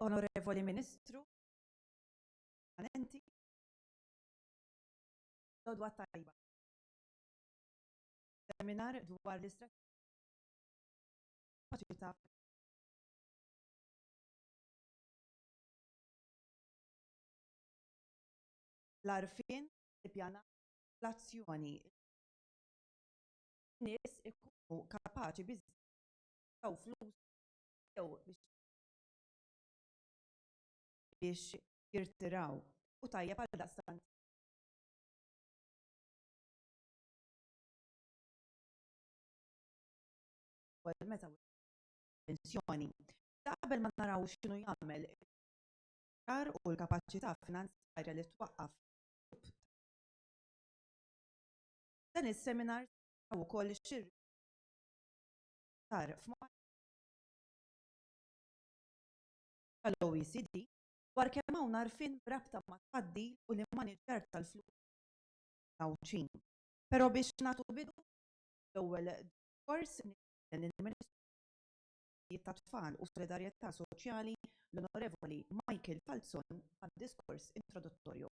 Onorevoli Ministru, permanenti l-għodwa t-tajba seminar dwar l-istrateġija kapaċità l-għarfien, l-ippjanar, l-azzjoni. Nies ikunu kapaċi biżżejjed jew flus jew biex biex jirtiraw u tajjeb għaldaqstant ukoll meta pensjoni. Ta' qabel ma naraw x'inhu jagħmel tar u l-kapaċità finanzjarja li twaqqaf Dan is-seminar taw ukoll xir tar tal-OECD dwar kemm hawn għarfien b'rabta mat-tfaddil u l-immaniġġjar tal-flus tal-Għawdxin. Però biex nagħtu bidu għall-ewwel diskors nistieden lill-Ministru għad-Drittijiet tat-Tfal u s-Solidarjetà Soċjali l-Onorevoli Michael Falzon għad-diskors introduttorju.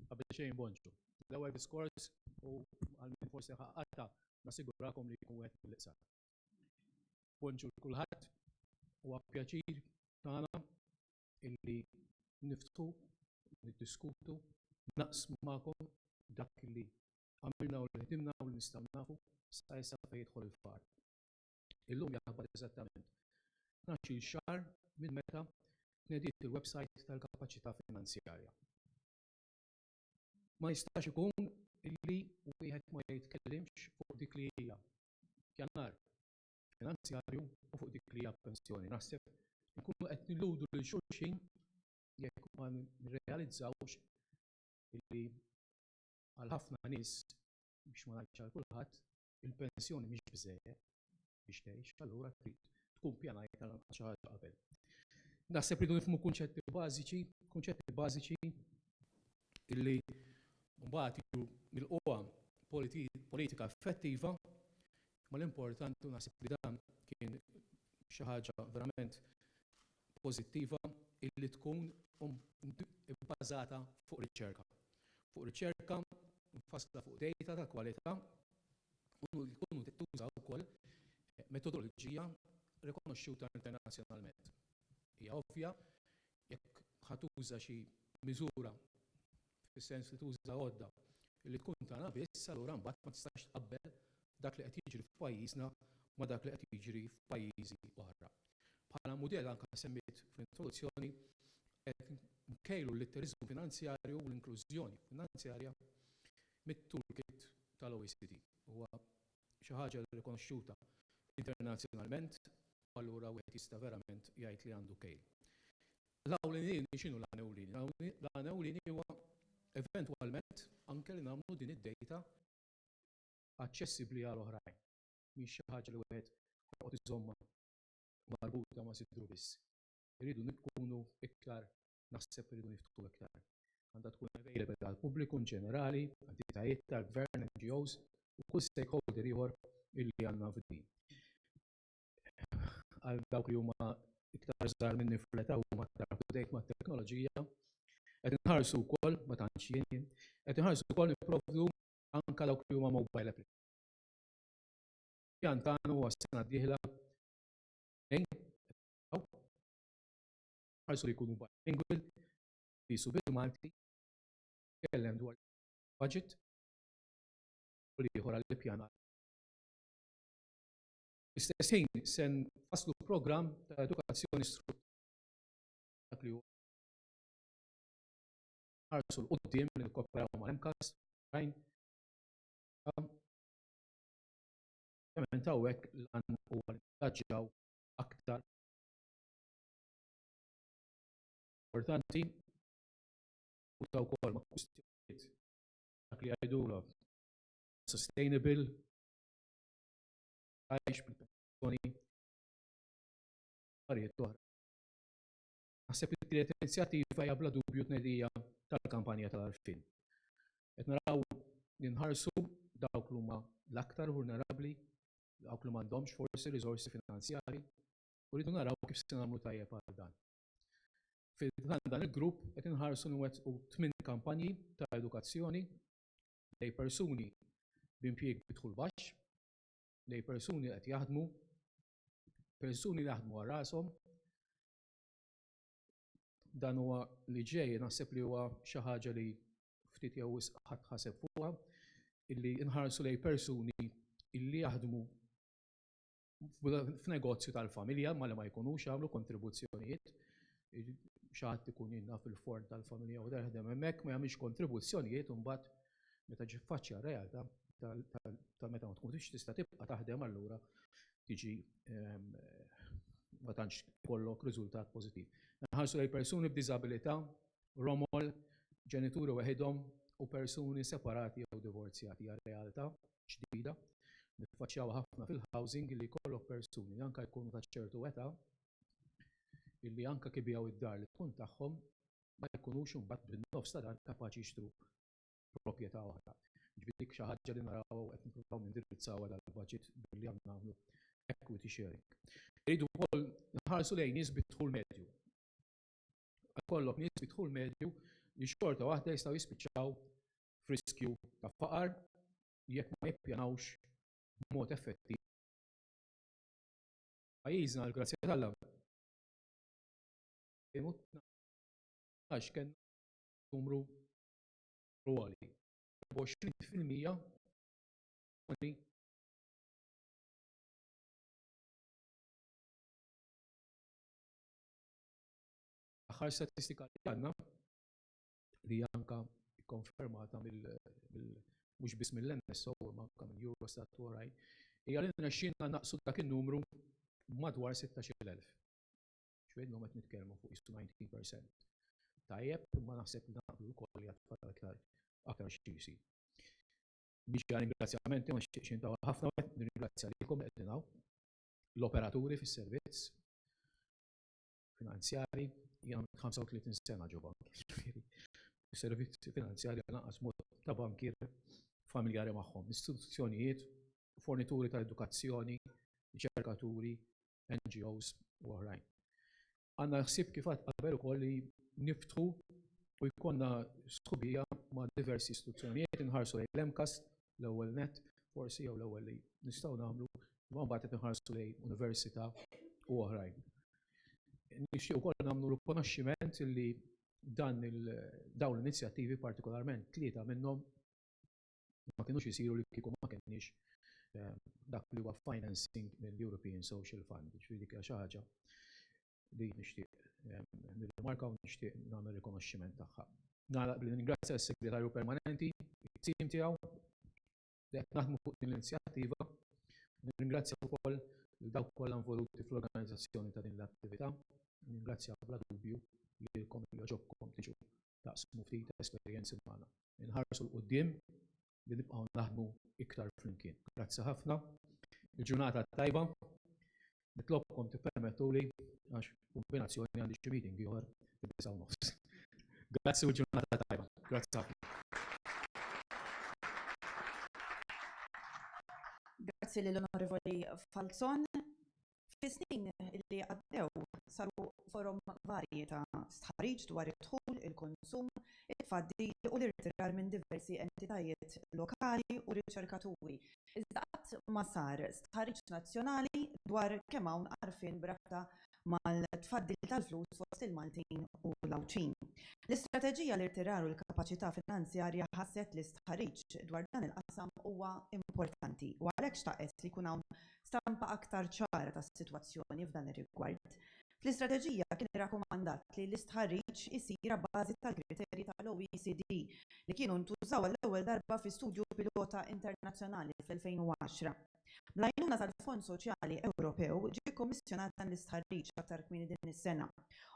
Qabel xejn bonġu. L-ewwel diskors u għal min forsi ħaqqata nassigurakom li jkun wieħed mill-iqsar. Bonġu kulħadd huwa pjaċir tagħna illi niftħu, niddiskutu, naqsmu magħkom dak li għamilna u li ħdimna u li nistgħu nafu sa issa fejn jidħol il-faqar. Illum jaqbad eżattament tnax-il xahar minn meta tnediet il-websajt tal-kapaċità finanzjarja. Ma jistax ikun illi wieħed ma jitkellimx fuq dik li hija pjanar finanzjarju u fuq dik li hija pensjoni. Naħseb inkunu qed nilludu lil xulxin jekk ma nirrealizzawx illi għal ħafna nies, biex ma ngħidx għal kulħadd, il-pensjoni mhix biżżejjed biex tgħix, allura trid tkun pjanajt għal anqas xi ħaġa qabel. Naħseb rridu nifhmu kunċetti bażiċi, kunċetti bażiċi illi mbagħad jiġu mill-qwa politika effettiva, ma l-importanti naħseb li dan kien xi ħaġa verament pożittiva illi tkun ibbażata fuq riċerka, fuq riċerka mfassla fuq dejta ta' kwalità u li tkun tuża wkoll metodoloġija rikonoxxuta internazzjonalment. Hija ovvja, jekk ħa tuża xi miżura fis-sens li tuża għodda li tkun tagħna biss, allura mbagħad ma tistax tqabbel dak li qed jiġri f'pajjiżna ma' dak li qed jiġri f'pajjiżi oħra. Bħala mudell anke semmejt fl-introduzzjoni qed nkejlu l-litteriżmu finanzjarju u l-inklużjoni finanzjarja mit-toolkit tal-OECD. Huwa xi ħaġa rikonoxxuta internazzjonalment u allura wieħed jista' verament jgħid li għandu kejl. L-għan ewlieni x'inhu l-għan ewlieni? L-għan ewlieni huwa eventwalment anke li nagħmlu din id-dejta aċċessibbli għal oħrajn. Mhix xi ħaġa li wieħed joqgħod iżommha marbuta ma' sidru biss. Irridu nkunu iktar, naħseb irridu niftħu iktar. Għandha tkun available għall-pubbliku in ġenerali, entitajiet tal-gvern, NGOs u kull stakeholder ieħor illi għandna f'din. għal dawk li huma iktar żgħar minni fl-età huma aktar up to date mat-teknoloġija. Qed inħarsu wkoll, ma tantx jien, qed inħarsu wkoll nipprovdu anke dawk li huma mobile applications. Pjan tagħna huwa s-sena d-dieħla tnejn ħarsu li jkunu bilingual, jisu bil-Malti, tkellem dwar budget u li ieħor għall-ippjanar. Fl-istess ħin, se nfasslu programm ta' edukazzjoni strutturali dak li hu nħarsu 'l quddiem li nikkooperaw mal-MCAS u oħrajn u ovvjament hawnhekk l-għan huwa li ningaġġaw aktar importanti marbuta wkoll ma' kwistjonijiet bħal dak li jgħidulhom sustainable għajx bil-pensjoni affarijiet oħra. Naħseb li tielet inizjattiva hija bla dubju tnedija tal-kampanja tal-għarfien. Qed naraw li nħarsu dawk li huma l-aktar vulnerabbli, dawk li m'għandhomx forsi riżorsi finanzjarji, u rridu naraw kif se nagħmlu tajjeb għal dan. Fil-dan dan il-grupp qed inħarsu nwettqu tmien kampanji ta' edukazzjoni lejn persuni b'impjieg bi dħul baxx, lejn persuni li qed jaħdmu, persuni li jaħdmu għal rashom. Dan huwa li ġej naħseb li huwa xi ħaġa li ftit jew wisq ħadd ħaseb fuqha, illi nħarsu lejn persuni illi jaħdmu f'negozju tal-familja ma li ma jkunux jagħmlu kontribuzzjonijiet. Xi ħadd ikun jien naf il-forn tal-familja u dan jaħdem hemmhekk ma jagħmilx kontribuzzjonijiet u mbagħad meta ġi ffaċċja r-realtà ta' meta ma tkunx tista' tibqa' taħdem allura tiġi ma tantx tkollok riżultat pożittiv. Inħarsu lejn persuni b'diżabilità Romol, ġenituri weħidhom u persuni separati jew divorzjati hija realtà ġdida. Niffaċċjawha ħafna fil-housing li jkollok persuni li anke jkunu ta' ċertu età illi anke jekk ibigħu d-dar li tkun tagħhom ma jkunux imbagħad bin-nofs ta' dan kapaċi jixtru proprjetà oħra. Jiġifieri dik xi ħaġa li narawha u qed nippruvaw nindirizzawha dal-budget billi aħna nagħmlu equity sharing. Irridu wkoll nħarsu lejn nies bi dħul medju. Ikollok nies bi dħul medju li xorta waħda jistgħu jispiċċaw f'riskju ta' faqar jekk ma jippjanawx b'mod effettiv. Pajjiżna għall-grazzja t'Alla għax kellna numru għoli. 20% L-aħħar statistika li għandna, li hija anke kkonfermata mhux biss mill-NSO imma anke minn Eurostat u oħrajn, hija li rnexxielna nnaqqsu dak in-numru b'madwar 16-il elf. Ġifieri llum qed nitkellmu fuq qisu 19%. Tajjeb, imma naħseb li naqblu wkoll li għad fadal iktar xi jsir. Biex għal ringrazzjamenti ma nixtieqx intawl ħafna, nirringrazzja lilkom li qegħdin hawn, l-operaturi fis-servizz, finanzjari, jien għamilt 35 sena ġo bank, jiġifieri s-servizzi finanzjari lanqas mhux ta' bankier familjari magħhom, istituzzjonijiet, fornituri ta' edukazzjoni, riċerkaturi, NGOs u oħrajn. Għandna l-ħsieb kif qatt qabel ukoll li niftħu u jkollna sħubija ma' diversi istituzzjonijiet, inħarsu lejn l-MCAST L-ewwel nett, forsi jew l-ewwel li nistgħu nagħmlu, imma mbagħad qed inħarsu lejn università u oħrajn. Nixtieq ukoll nagħmlu rikonoxximent li dan dawn l-inizjattivi partikolarment tlieta minnhom ma kinux isiru li kieku ma kenniex dak li huwa financing mill-European Social Fund, ġifieri dik hija xi ħaġa li nixtieq nirrimarka u nixtieq nagħmel rikonoxximent tagħha. Nagħlaq billi ningrazzja lis-Segretarju Permanenti, it-tim tiegħu li qed naħdmu fuq din l-inizjattiva. Nirringrazzja wkoll lil dawk kollha involuti fl-organizzazzjoni ta' din l-attività. Ningrazzja bla dubju lilkom li għoġobkom tiġu taqsmu ftit esperjenzi magħna. Inħarsu 'l quddiem li nibqgħu naħdmu iktar flimkien. Grazzi ħafna. Il-ġurnata tajba. Nitlobkom tippermettuli għax kombinazzjoni għandi xi meeting ieħor fid-disa' u nofs. Grazzi u ġurnata tajba. Grazzi ħafna. Grazzi lill-Onorevoli Falzon. Fis-snin li għaddew saru forom varji ta' stħarriġ dwar id-dħul, il-konsum, it-tfaddil u l-irtirar minn diversi entitajiet lokali u riċerkaturi, iżda qatt ma sar stħarriġ nazzjonali dwar kemm hawn għarfien b'rabta mal-tfaddil tal-flus fost il-Maltin u l-Għawdxin. L-istrateġija, l-irtirar u l-kapaċità finanzjarja ħasset li stħarriġ dwar dan il-qasam huwa importanti u għalhekk xtaqet li jkun hawn stampa aktar ċara tas-sitwazzjoni f'dan ir-rigward. Fl-istrateġija kien irrakkomandat li l-istħarriġ isir abbażi tal-kriterji tal-OECD li kienu ntużaw għall-ewwel darba fi studju pilota internazzjonali fl-2010. Bl-għajnuna tal-Fond Soċjali Ewropew ġie kkommissjonat dan l-istħarriġ aktar kmieni din is-sena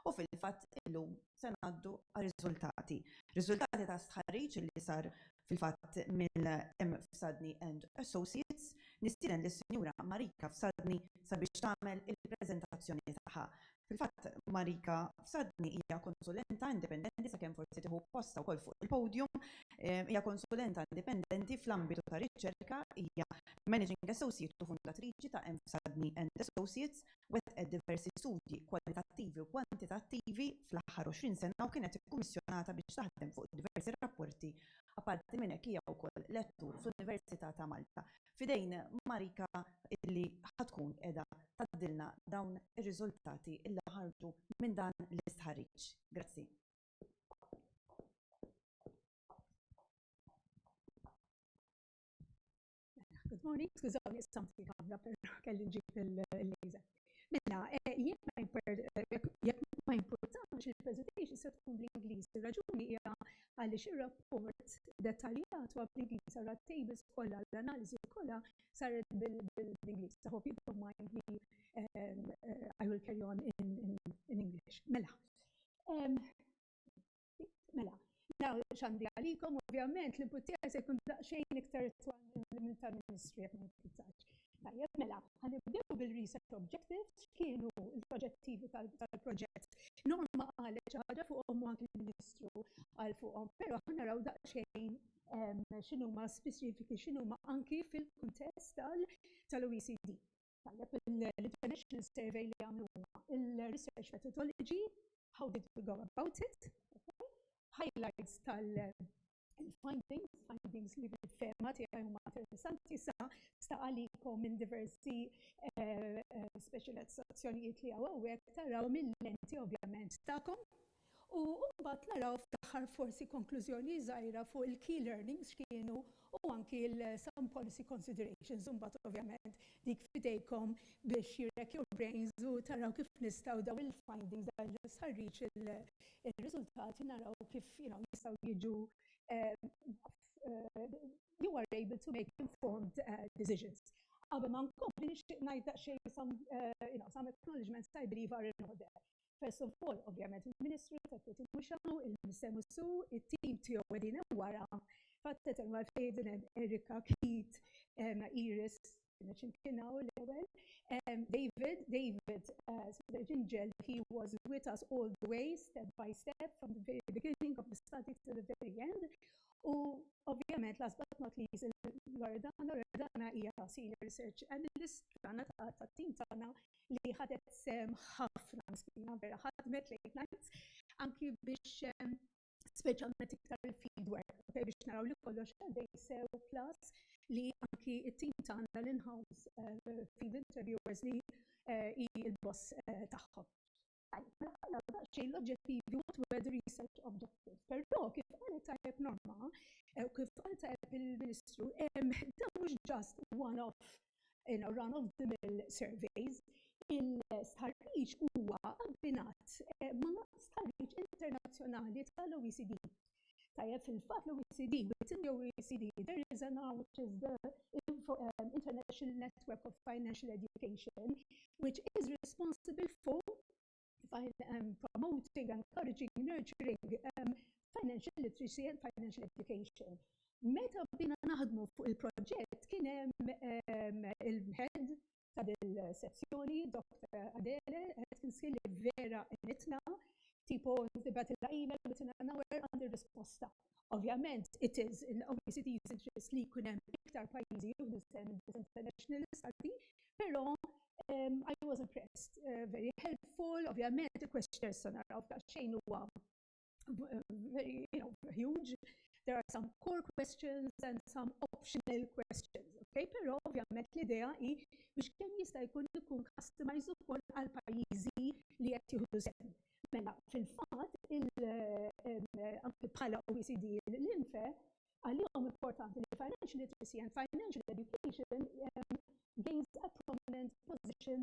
u fil-fatt illum se ngħaddu għar-riżultati. Riżultati ta' stħarriġ li sar Fil-fatt, mill M. Fsadni and Associates, nistieden lis-Sinjura Marika Fsadni sabiex tagħmel il-preżentazzjoni tagħha. Fil-fatt, Marika Fsadni hija konsulenta indipendenti, sakemm forsi tieħu postha wkoll fuq il-podium, hija konsulenta indipendenti fl-ambitu tar-riċerka, hija Managing Associate u fundatriċi ta' M. Fsadni and Associates, wettqet diversi studji kwalitattivi u kwantitattivi fl-aħħar 20 sena u kienet ikkummissjonata biex taħdem fuq diversi rapporti. Apparti minn hekk hija wkoll lettur fl-Università ta' Malta. F'idejn Marika illi ħa tkun qiegħda tgħaddilna dawn ir-riżultati illi ħarġu minn dan l-istħarriġ. Grazzi. Good morning, skużawni, samt il-kamra, pero kelli ġib il-lejza. Mela, eh, jek ma jimportax eh, il-presentation se tkun bl-Inglis. Il-raġuni hija għaliex ir-rapport dettaljat huwa bl-Inglis għal tables kollha l-analiżi kollha saret bil-Inglis. I hope you don't mind me eh, I will carry on in, in, in English. Mela, Mela, naw xandi għalikom, ovvjament, l-input tiegħi se jkun daqsxejn iktar twal minn tal-Ministru jekk ma jimpizzax. Tajjeb, mela, ħanibdew bil-research objectives, x'kienu l-oġġettivi tal-proġett. Norma qalet xi ħaġa fuqhom u anki l-Ministru qal fuqhom, però aħna raw daqsxejn x'inhuma speċifiki, x'inhuma anki fil-kuntest tal-OECD. Tajjeb, l-international survey li għamlu huma il-research methodology, how did we go about it, okay? highlights tal-findings, findings li fil-fema tiegħi huma interessanti sa sta għalikom minn diversi eh, eh, specializzazzjonijiet li għawek taraw mill-lenti ovvjament tagħkom, U mbagħad naraw fl-aħħar forsi konklużjoni żgħira fuq il-key learnings x'kienu u anki l-some policy considerations u mbagħad ovvjament dik f'idejkom biex you rack your brains u taraw kif nistgħu dawn il-findings, dan l-istħarriġ, ir-riżultati naraw kif you know jistgħu jiġu you are able to make informed decisions. Qabel ma nkompli nixtieq ngħid daqsxejn some you know some acknowledgements I believe are in order. First of all, ovvjament, il-Ministru tat-Twetti mhux hawn, il-Minister mhux su, it-tim tiegħu qegħdin hemm wara. Fatt hemm għalfejn din hemm Erika, Keith, Iris, Ġinġel kien hawn l-ewwel, David, David, Sir Ġinġel, he was with us all the way, step by step, from the very beginning of the study to the very end. U ovvjament, last but not least, il-Loredana, Loredana hija Senior Research Analyst tagħna tat-tim tagħna, li ħadet sehem ħafna miskina vera ħadmet late nights anki biex speċjalment iktar il-field work okay, biex naraw li kollox għaddej sew plus li anki it-tim tagħna l-in-house uh, field interviewers li uh, i l-boss uh, tagħhom. Għalhekk għandna daqsxejn l-oġġettivi what were the research objectives. Però kif qalet tajjeb Norma, eh, u kif qal tajjeb il-Ministru, dan mhux ġast one-off in a run of the mill surveys, il-starriċ huwa abbinat eh, ma' starriċ internazzjonali tal-OECD. Tajjeb, fil-fatt l-OECD, within the OECD there is an arm which is the um, International Network of Financial Education, which is responsible for um, promoting, encouraging, nurturing um, financial literacy and financial education. Meta bina naħdmu fuq il-proġett kien hemm um, il-head ta' dil-sezzjoni, Dr. Adele, qed tinsiel li vera għenitna, tipo tibgħatilha email within an hour għandi r-risposta. Ovvjament, it is in OECD's interest li jkun hemm iktar pajjiżi jieħdu sehem minn this international study, però I was impressed, very helpful, ovvjament il-questionnaire issa naraw f'daqsxejn huwa very, you know, huge. There are some core questions and some optional questions, okay? Però ovvjament l-idea hi biex kemm jista' jkun ikun customized ukoll għal pajjiżi li qed jieħdu sehem. Mela, fil-fatt, anke bħala OECD l-INFE, għalihom importanti li financial literacy and financial education gains a prominent position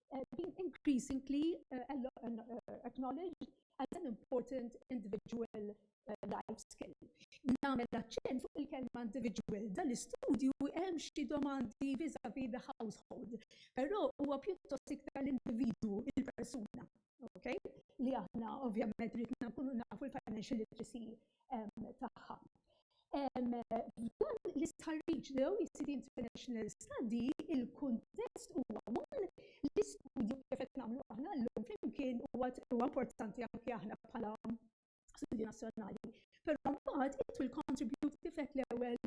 being increasingly acknowledged as an important individual life skill. Namel aċċent fuq il-kelma individual, dan l-istudju hemm xi domandi vis-a-vis the household, però huwa pjuttost iktar l-individwu, il-persuna, okay? Li aħna ovvjament ridna nkunu nafu l-financial literacy tagħha. F'dan l-istħarriġ l-OECD International Study, il-kuntest huwa one li studju kif qed nagħmlu aħna llum flimkien huwa importanti anke aħna bħala studju nazzjonali. Però mbagħad it will contribute kif qed l-ewwel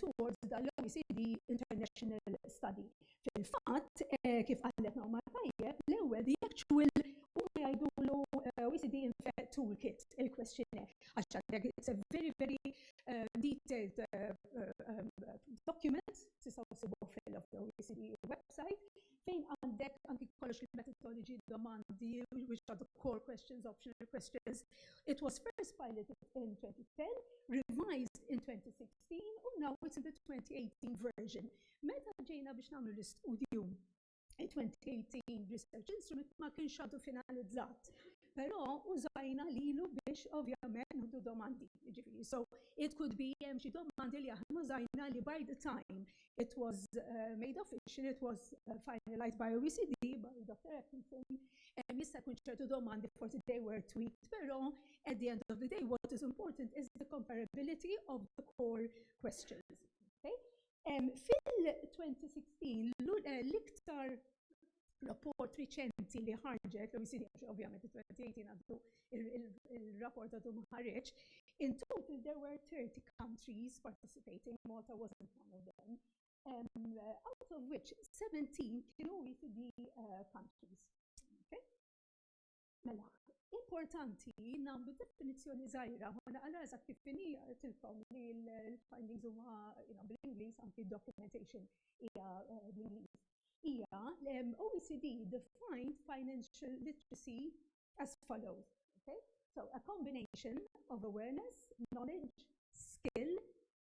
towards dan l-OECD International Study. Fil-fatt, kif qallet Naomar Tajjeb, l-ewwel jekk ċwill huma jgħidulu OECD infett toolkit, il-questionnaire, għax għandek it's a very very detailed document, tistgħu ssibuh fil-OECD website, fejn għandek anki kollox il-methodology, domandi, which are the core questions, optional questions. It was first piloted in 2010, revised in 2016, u now it's in the 2018 version. Meta ġejna biex nagħmlu l-istudju, it-2018 Research Instrument ma kienx għadu finalizzat, però użajna lilu biex ovvjament nieħdu domandi. Jiġifieri, so it could be hemm xi domandi li aħna użajna li by the time it was made official, it was finalized by OECD, by Dr. Atkinson, jista' jkun ċertu domandi forsi they were tweaked, però at the end of the day what is important is the comparability of the core questions. Okay? Fil-2016, l-iktar rapport riċenti li ħarġet, l-OECD għax ovvjament fil-2018 għandu il-rapport għadu ma ħareġ, in total there were 30 countries participating, Malta wasn't one of them, out of which 17 kienu OECD countries. Mela, importanti nagħmlu definizzjoni żgħira, ma naqra eżatt kif inhi tilkom li l-findings huma bl-Ingliż anki documentation hija eh, bl-Ingliż. Hija l-OECD defined financial literacy as follows. Okay? So a combination of awareness, knowledge, skill,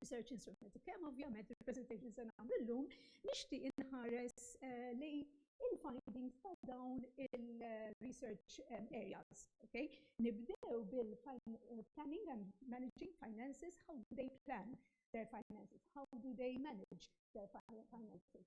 research instrument. Kemm ovvjament il-presentation se nagħmlu llum nixtieq inħares eh, li il-findings ta' dawn il-research eh, areas. Okay? Nibdew bil-planning eh, and managing finances, how do they plan their finances, how do they manage their finances.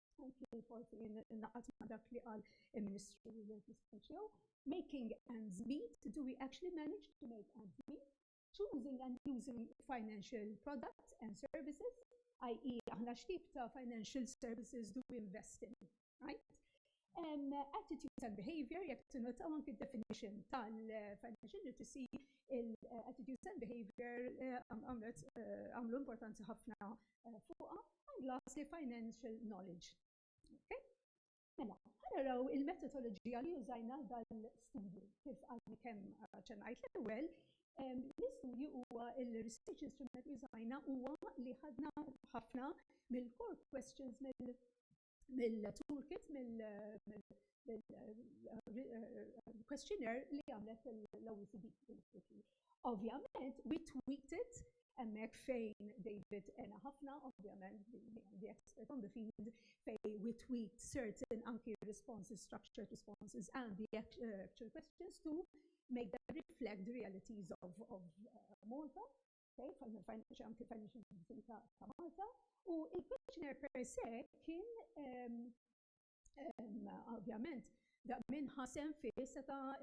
anki forsi naqat ma' dak li qal il-Ministru Speċjew, making ends meet, do we actually manage to make ends meet, choosing and using financial products and services, i.e. aħna x'tip ta' financial services do we invest in, right? Attitudes and behavior, jekk tinnotaw anki d-definition tal-financial literacy, il-attitudes and behavior għamlu importanti ħafna eh, fuqha għand l-asli financial knowledge. Okay? Mela, ħanaraw il-metodoloġija li użajna dal-studju, kif għadni kemm ċennajt l-ewwel, L-istudju huwa il-research instrument li żajna huwa li ħadna ħafna mill-core questions mill mill-toolkit, mill-questionnaire li għamlet l-OECD. Ovvjament, we tweaked it hemmhekk fejn David għena ħafna, ovvjament, the expert on the field, fejn we tweaked certain anki responses, structured responses and the actual questions to make them reflect the realities of Malta. ta' Malta, u il-questionnaire per se kien ovvjament da minn ħasem fih seta'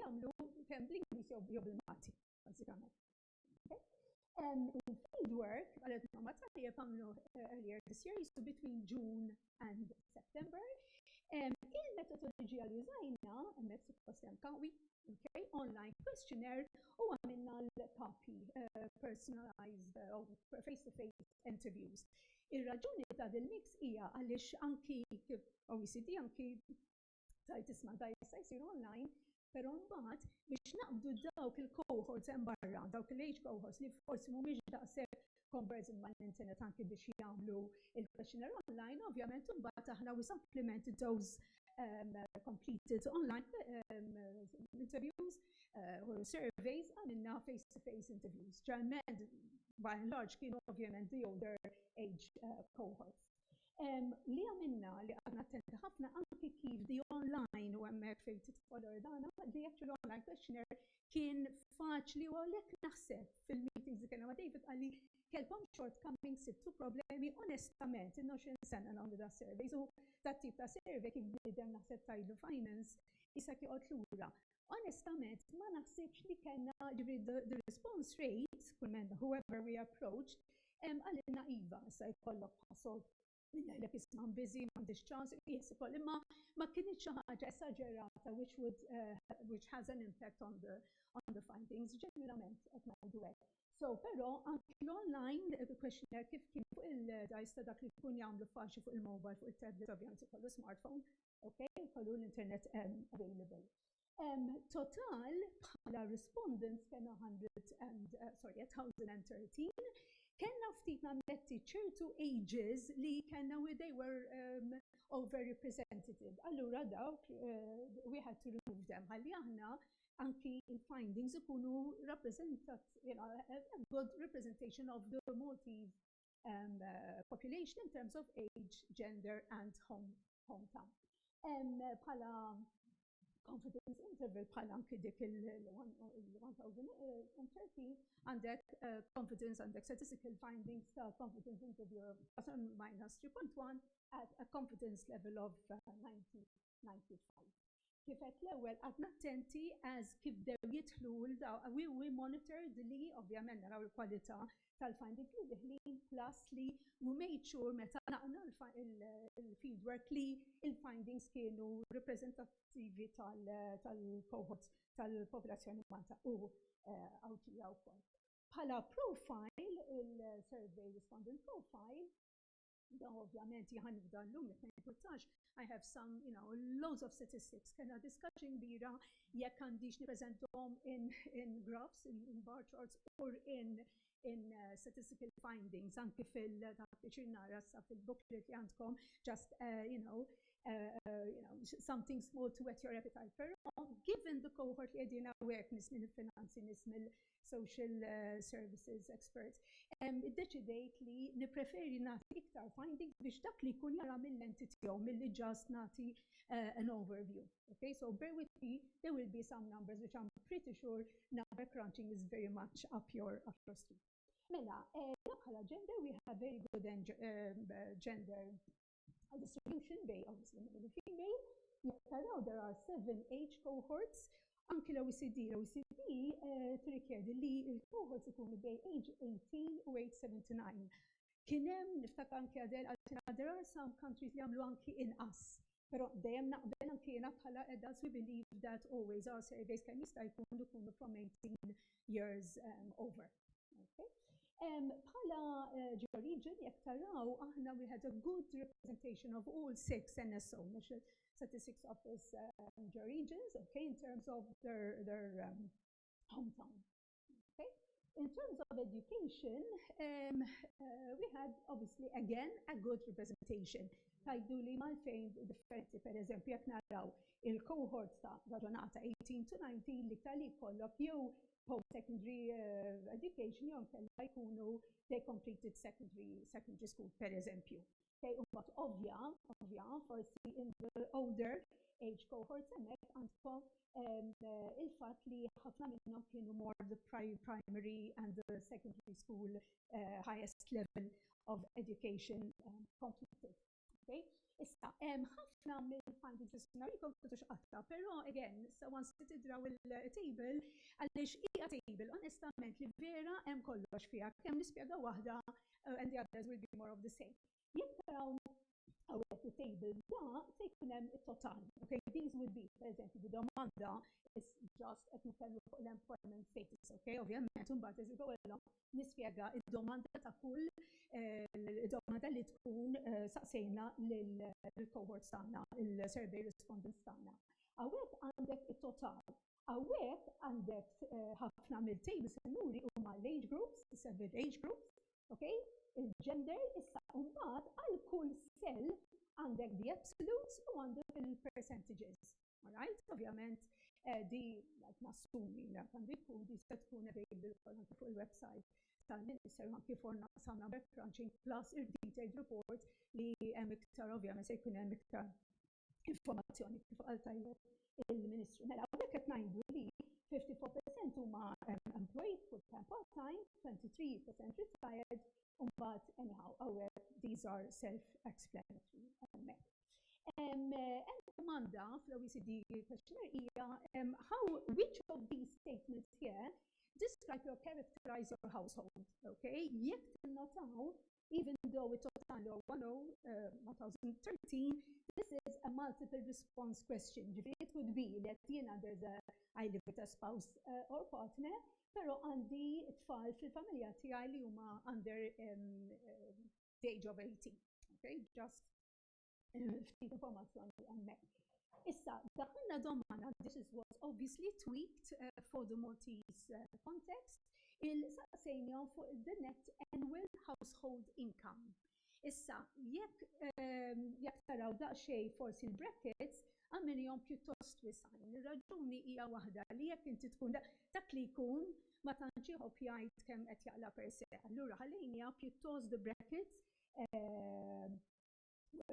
jagħmlu kemm bl-Ingliż jew bil-Malti, bażikament. Il-fieldwork, għalet ma' tajjeb għamlu earlier this year, jisu between June and September. Il-metodoloġija li użajna, emmek suppost hemm kawi, okay, online questionnaire u għamilna l-kapi eh, personalized eh, u face-to-face interviews. Ir-raġuni ta' dil-mix hija għaliex anki kif OECD anki tajt isma' ta' jista' jsir online, però mbagħad biex naqbdu dawk il-cohorts hemm barra, dawk l-age cohorts li forsi mhumiex daqshekk conversant mal-internet anki biex jagħmlu l-questionnaire online, ovvjament imbagħad aħna we supplement those completed online interviews u surveys għamilna face-to-face interviews. Ġeneralment, by and large, kienu ovvjament the older age cohorts. Li għamilna li qgħadna attenti ħafna anki kif the online u hemmhekk fejn tidħol Ordana, the actual online questionnaire kien faċli u għalhekk naħseb fil-meetings li kellna ma' David qal li kellkom shortcomings, sibtu problemi, onestament ilna 20 sena nagħmlu das-surveys u dat-tip ta' survey kif bniedem naħseb tgħidlu finance, isek joqgħod lura. Onestament, ma naħsibx li kellna ġifri the response rate, kull menda, whoever we approach, għalina iva, sa jkollok pasol Lejlek isma busy, m'għandix ċans, yes, ukoll imma ma kienx xi ħaġa esaġerata which would uh, which has an impact on the on the findings ġeneralment qed ngħidu hekk. So, però anki l-online eh, questionnaire kif kien fuq il-dajs ta' dak li jkun jagħmlu faċi fuq il-mobile, fuq il-tablet, ovvjament kollu smartphone, Ok, kollu l-internet hemm available. Um, total bħala respondents kena 100 and, uh, sorry, 1013, kena ftit nammetti ċertu ages li kena where they were um, overrepresented. Allura dawk, uh, we had to remove them. Għalli aħna anki il-findings ikunu rappresentat, you know, a good representation of the Maltese um, uh, population in terms of age, gender and home, hometown. Um, pala confidence interval pala anki dik il-1013 għandek uh, confidence għandek statistical findings ta' confidence interval minus 3.1 at a confidence level of uh, 90 95. Kif qed l-ewwel qadna attenti għaż kif bdew jidħlu l daw we we monitored li ovvjament naraw il-kwalità tal-finding li diħlin plus li we made sure meta naqna il-fieldwork li il-findings kienu reprezentativi tal-cohort tal-popolazzjoni Malta u Awtija wkoll. Bħala profile, il-survey respondent profile, Dan ovvjament jħan f'dan l-lum li fejn kultax, I have some, you know, loads of statistics. Kena discussion bira jekk għandix niprezentom in, in graphs, in, in bar charts, or in, in uh, statistical findings, anki fil-tappiċin nara sa fil-booklet li għandkom, just, uh, you know, uh, uh, you know, something small to wet your appetite. Pero, given the cohort li għedina għek nis minn il-finanzi, nis mill social eh, services experts, iddeċidejt li nipreferi nagħti iktar findings biex dak li jkun jara mill-entity jew milli ġast nagħti eh, an overview. Okay, so bear with me, there will be some numbers which I'm pretty sure number crunching is very much up your, up your street. Mela, eh, bħala gender we have very good gender Għal distribution bej obviously minn u female, jekk taraw there are seven age cohorts, anki l-OECD, l-OECD eh, tirrikjedi li l-cohorts ikunu bej age 18 u age 79. Kien hemm niftakar anki għadel għaltina there are some countries li għamlu anki inqas. Però dejjem naqbel anki jiena bħala adults we believe that always our surveys kemm jista' jkunu jkunu from 18 years um, over. Bħala eh, ġeorigin, jek taraw, aħna we had a good representation of all six NSO, National Statistics Office um, ġeorigins, okay, in terms of their, their um, hometown. Okay? In terms of education, um, uh, we had obviously again a good representation. Tajdu li mal-fejn differenti, per eżempju, jek naraw il-cohort ta' raġonata 18 to 19 li tali kollok jew post-secondary uh, education jew kellha jkunu they completed secondary, secondary school, per eżempju. Okay, u mbagħad ovvja, ovvja, forsi in the older age cohort hemmhekk għandkom um, uh, il-fatt li ħafna minnhom kienu more the primary and the secondary school uh, highest level of education um, completed. Issa, ħafna mill-findings li sibna jkom kutux qatta, però again, so once li tidraw il-table, għaliex hija table, onestament li vera hemm kollox fiha, kemm nispjega waħda and the others will be more of the same. Jekk taraw hawnhekk it-table da se jkun hemm it-total. Okay, these would be, per eżempju, the domanda is just qed nitkellmu fuq l-employment status, okay, ovvjament, imbagħad as you go along nispjega id-domanda ta' kull domanda li tkun saqsejna lill-cohorts tagħna, il-survey respondents tagħna. Hawnhekk għandek it-total. Hawnhekk għandek ħafna mill-tejbi sinuri huma l-age groups, is-several age groups, okay? Il-gender issa mbagħad għal kull sell għandek the absolutes u għandek il-percentages. malajr, ovvjament eh, di nassumi li għandi tkun di se tkun available anke fuq il-website tal-Minister ma kif orna samna backcrunching plus il-detailed report li hemm iktar ovvjament se jkun hemm iktar informazzjoni kif għal tajjeb il-Ministru. Mela, għek qed ngħidu li 54% huma employed full-time part-time, 23% retired, u mbagħad anyhow, għawek these are self-explanatory hemmhekk. domanda fl-OECD questionnaire hija how which of these statements here describe or characterize your household. Okay? Jekk tinnotaw, even though it total or 1013, this is a multiple response question. Ġifieri it could be that jiena there's a I live with a spouse uh, or partner, pero għandi tfal fil-familja tiegħi li huma under um, uh, the age of 18. Okay, just eh, ftit informazzjoni hemmhekk. Issa, daħna domana, this is was obviously tweaked uh, for the Maltese uh, context, il-saqsejnjom fuq the net annual household income. Issa, jekk um, jekk taraw daqsxejn forsi l-brackets, għamilhom pjuttost wisgħin. Ir-raġuni hija waħda li jekk inti tkun dak li jkun ma tantx iħobb jgħid kemm qed jaqla' per se. Allura ħallejniha pjuttost bi brackets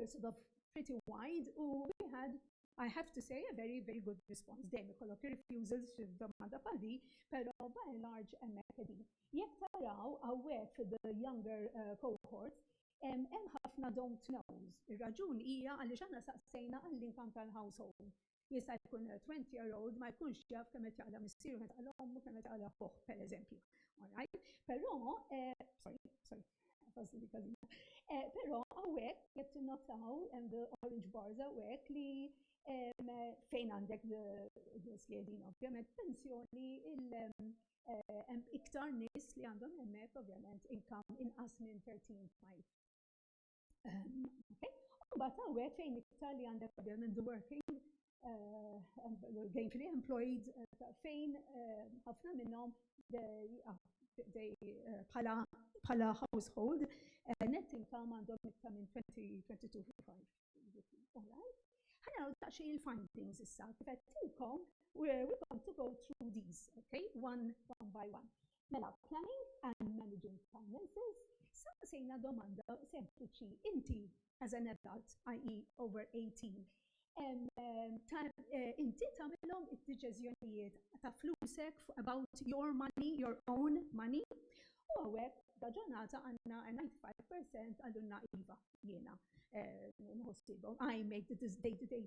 sort of pretty wide u we had I have to say a very very good response. Dejjem ikollok ir-refusals fi domanda bħal din, però by and large hemmhekk qegħdin. Jekk taraw hawnhekk fid-younger cohort, Hemm ħafna don't knows. Ir-raġuni hija għaliex aħna staqsejna għall-income tal-household. Jista' jkun li twenty year old ma jkunx jaf kemm qed jaqla' missieru, kemm qed taqla' ommu, kemm qed jaqla' ħuh, pereżempju. All right? Però, sorry, sorry, ħosni li każina. Però hawnhekk, jekk tinnotaw, hemm the orange bars hawnhekk li fejn għandek the skjedin ovvjament, pensjoni, hemm iktar nies li għandhom hemmhekk ovvjament inkam inqas minn 13.5. Mbagħad hawnhekk fejn iktar li għandek ovvjament the working gainfully employed fejn ħafna minnhom bħala household net income għandhom iktar minn 22.5. Ħana għu daqxie il-findings issa, kifet tilkom, we're going to go through these, okay, one, one by one. Mela, planning and managing finances, saqsejna domanda sempliċi, inti as an adult, i.e. over 18, eh, inti tamilom id-deċizjonijiet ta' flusek about your money, your own money, U hawnhekk da ġurnata għandna 95% għallunna iva jiena nħossibhom. I make the day-to-day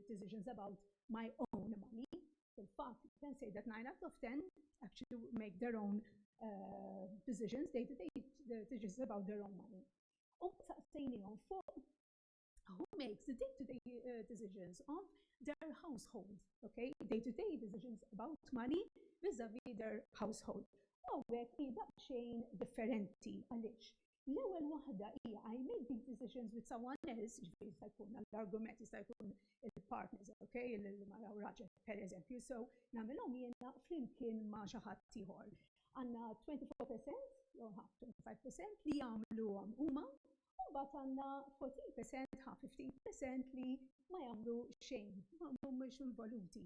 decisions about my own money. Fil-fatt, ten sejdet 9 out of 10 actually make their own uh, decisions, day-to-day decisions about their own money. U saqsejnijom fuq who makes the day-to-day -day, uh, decisions of their household, okay? Day-to-day -day decisions about money vis-a-vis their household. U għek ida xejn differenti għalix. L-ewel wahda hija I make these decisions with someone else, ġifiri jista' jkun l-argument jista' jkun il-partners, okay? Il-mara u raġel, per eżempju, so namilom jena flimkien ma xaħat tiħor. Għanna 24% jew 25% li jagħmluhom huma u mbagħad għandna 40% ħa 15% li ma jagħmlu xejn, ma mhumiex involuti.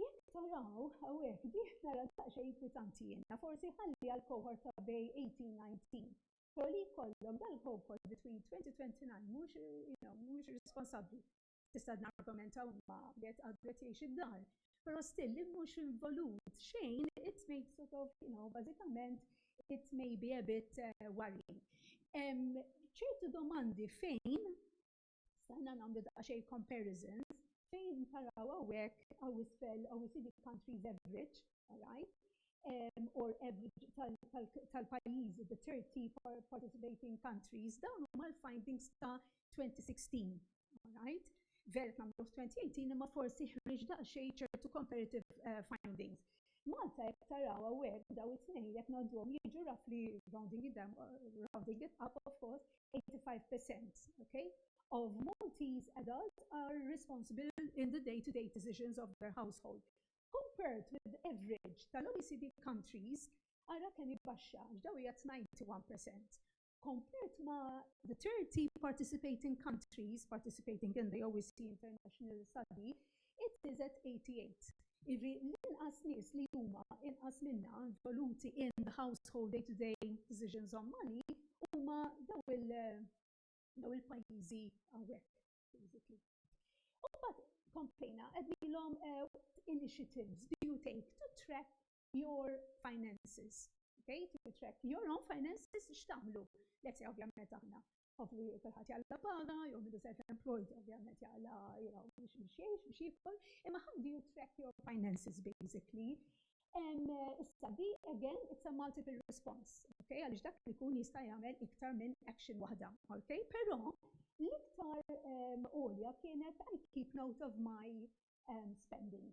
Jekk taraw hawnhekk dih nara daqsxejn kwitanti jiena, forsi ħalli għal cohort ta' bej 18-19. Però li jkollok dal-cohort between 20-29 mhux, you know, mhux responsabbli. tista' nargumenta huma li qed għadu qed jgħix id-dar. Però still li mhux involut xejn it may sort of, you know, bażikament it may be a bit eh, worrying. ċertu domandi fejn stanna nagħmlu daqsxejn comparisons fejn taraw hawnhekk għaw isfel OECD countries average, all right? um, or average tal-pajjiżi, the 30 participating countries, dawn huma l-findings ta' 2016. ngħid, vera qed nagħmlu 2018 imma forsi ħriġ daqsxejn ċertu comparative eh, findings. Malta jekk taraw hawnhekk daw it-tnejn jekk ngħadduhom jiġu roughly rounding it down, rounding it up of course, 85%, okay? Of Maltese adults are responsible in the day-to-day -day decisions of their household. Compared with the average tal-OECD countries, ara kemm jibbaxxa, daw hija 91%. komplet ma' the 30 participating countries participating in the OECD International Study, it is at 88. Ivi, l-inqas nies li huma inqas minna involuti in the household day-to-day decisions on money huma daw il-pajjiżi hawnhekk, basically. U mbagħad komplejna qegħdilhom initiatives do you take to track your finances. Okay, if you track your own finances, x'tagħmlu? Let's say, ovvjament aħna. Hopefully, kulħadd jalla paga, jew minn self-employed, ovvjament jalla, you know, biex biex jgħix, biex jikol. Imma how do you track your finances, basically? And uh, issa di, again, it's a multiple response, okay? Għalix dak li kun jista' jagħmel iktar minn action waħda, okay? Però l-iktar um, olja kienet I keep note of my um, spending.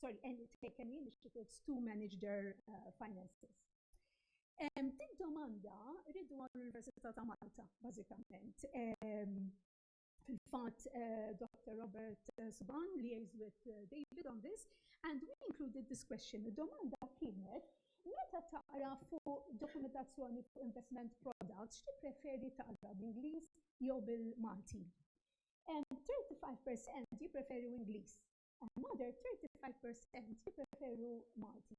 sorry, any, take any initiatives to manage their uh, finances. Um, din domanda rridu għall-Università ta' Malta, bażikament. Um, Fil-fatt, uh, Dr. Robert uh, Suban liaised with uh, David on this, and we included this question. Domanda kienet, meta taqra fuq dokumentazzjoni fuq investment products, xti preferi taqra bl-Ingliż jew bil-Malti? 35% jipreferi Ingliż another 35% jippreferu Malti.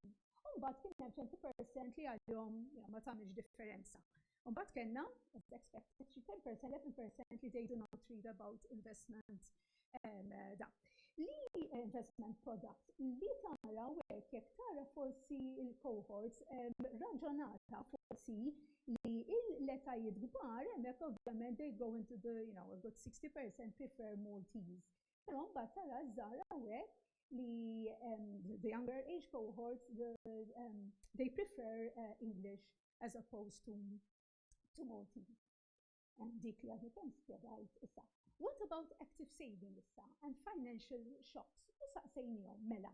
Umbat kien hemm 20% li għalihom ma tagħmilx differenza. Umbat kellna as expected xi 10% 11% li they do not read about investment um, da. Li eh, investment product li tara hekk jekk tara forsi il-cohorts um, raġonata forsi li l-letajiet kbar hemmhekk ovvjament they go into the you know a good 60% prefer Maltese Però mbagħad tara żgħar hawnhekk li um, the younger age cohorts the, um, they prefer uh, English as opposed to to Maltese. Um, dik li għadni kemm spjegajt issa. What about active saving issa and financial shocks? U saqsejnihom mela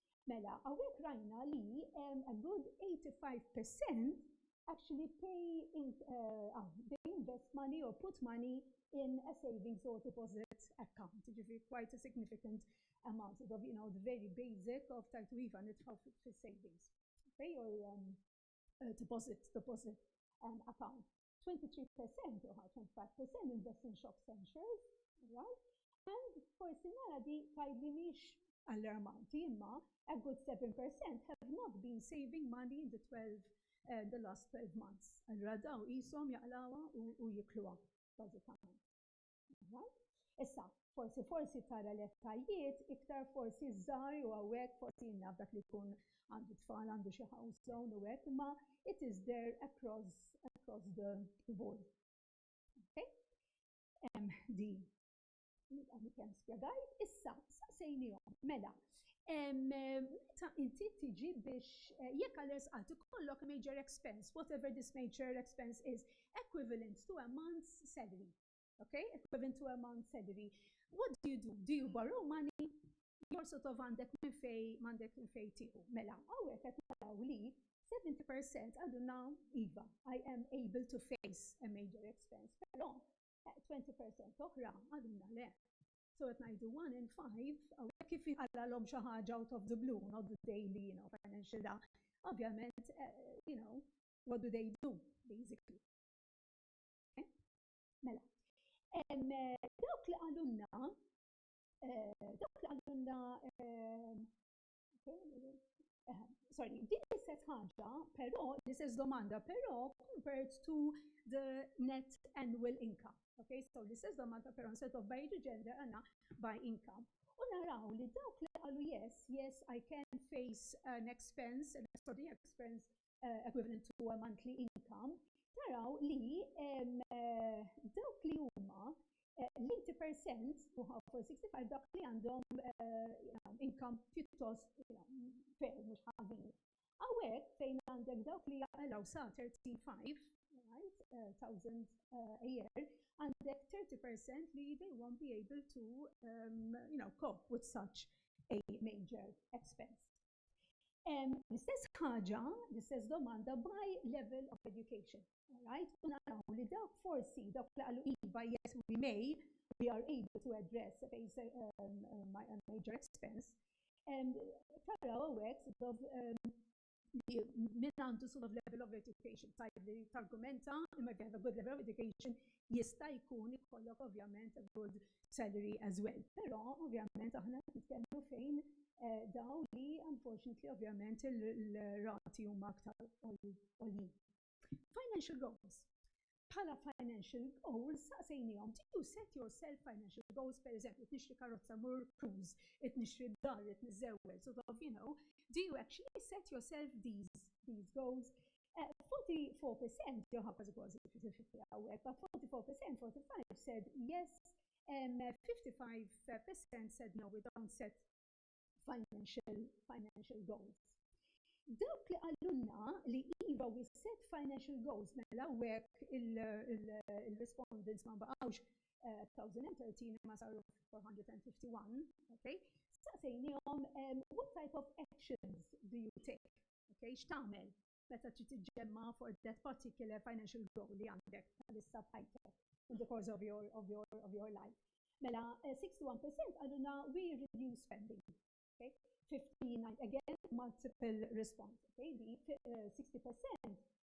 Mela, għawek rajna li a good 85% actually pay in, uh, ah, they invest money or put money in a savings or deposit account, ġifri quite a significant amount of, you know, the very basic of tajtu iva nitħaw fi savings, okay, or um, uh, deposit, deposit um, account. 23% u ħa 25% minn Best in Shops Censures, right? And forsi nara di tgħidli mhix allarmanti imma a good 7% have not been saving money in the 12 uh, the last 12 months. Allura daw qishom jaqlawha u jikluha bażikament. Issa, forsi forsi tara l-ettajiet iktar forsi żgħar u hawnhekk forsi naf dak li jkun għandu tfal għandu xi house zone u hekk imma it is there across across the board. Okay? Hemm din li kemm spjegajt, issa saqsejnihom mela meta inti tiġi biex eh, jekk għal-res għati kollok major expense, whatever this major expense is, equivalent to a month's salary. Okay? Equivalent to a Mount Sedri. What do you do? Do you borrow money? Jor sort of għandek minn fej, għandek minn fej tiħu. Mela, għawek għet naraw li 70% għadu naw IVA. I am able to face a major expense. Pero, 20% oħra għadu na le. So għet najdu 1 in 5, għawek kif għalla l-om xaħġa out of the blue, not the daily, you know, financial da. Ovvjament, eh, you know, what do they do, basically? Mela, dawk li għalunna, eh, dawk li għalunna, eh, eh, sorry, din l-istess ħaġa, però, l-istess domanda, però compared to the net annual income. Okay, so l-istess domanda, però, instead of by the gender, għanna by income. U naraw li dawk li għalu yes, yes, I can face an expense, an extraordinary expense eh, equivalent to a monthly income, taraw li eh, dawk li huma eh, l-80 percent u 65 dawk li għandhom income pjuttost fair mhux ħażin. Għawek fejn għandek dawk li jaqalaw sa 35 thousand uh, a year, għandek 30% li they won't be able to um, you know, cope with such a major expense. L-istess ħaġa, l-istess domanda by level of education. Alright? U naraw li dawk forsi dawk li qalu iva, yes, we may, we are able to address a major expense. Taraw għawek, sort min għandu sort of level of education, tajb li targumenta, imma if you have a good level of education, jista' jkun ikollok ovvjament a good salary as well. Però ovvjament aħna qed nitkellmu fejn dawn li unfortunately ovvjament il-rati huma aktar għoljin. Financial goals. Bħala financial goals saqsejniehom did you set yourself financial goals pereżempju qed nixtri karozza mmur cruise, qed nixtri dar, qed niżżewweġ, sort of you know, do you actually set yourself these goals? 44% jew ħafna żgħożi fil-50 hawnhekk, but 44%, 45 said yes, um, 55% said no, we don't set financial, financial goals. Dawk li għallunna li iva we set financial goals mela għek il-respondents ma baqawx 1013 eh, ma saru 451, okay? Staqsejnijom, um, what type of actions do you take? Okay, x'tagħmel meta trid tiġġemma for that particular financial goal li għandek bħalissa bħajtek in the course of your, of your, of your life. Mela, 61% eh, għaduna we reduce spending. Okay? 59, again, multiple response. Okay? Di 60% eh,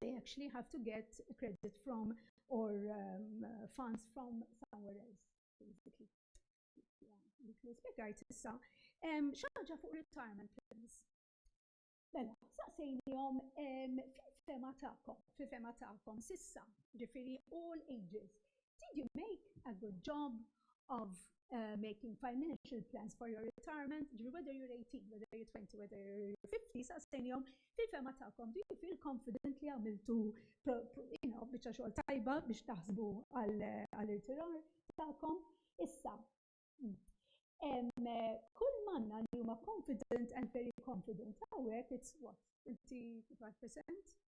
they actually have to get credit from or um, funds from somewhere else, basically. Nispjegajt issa, xaġa fuq retirement plans. Mela, saqsejnijom fil-fema ta'kom, fil-fema ta'kom, sissa, ġifiri all ages, Did you make a good job of uh, making financial plans for your retirement, whether you're 18, whether you're 20, whether you're 50, sa' senjom, fil-fema ta'kom, do you feel confident li għamiltu, you know, bieċa xogħol tajba biex taħsbu għal-irtirar ta'kom? Issa, kull manna li huma confident and very confident, għawek, it's what, 25%?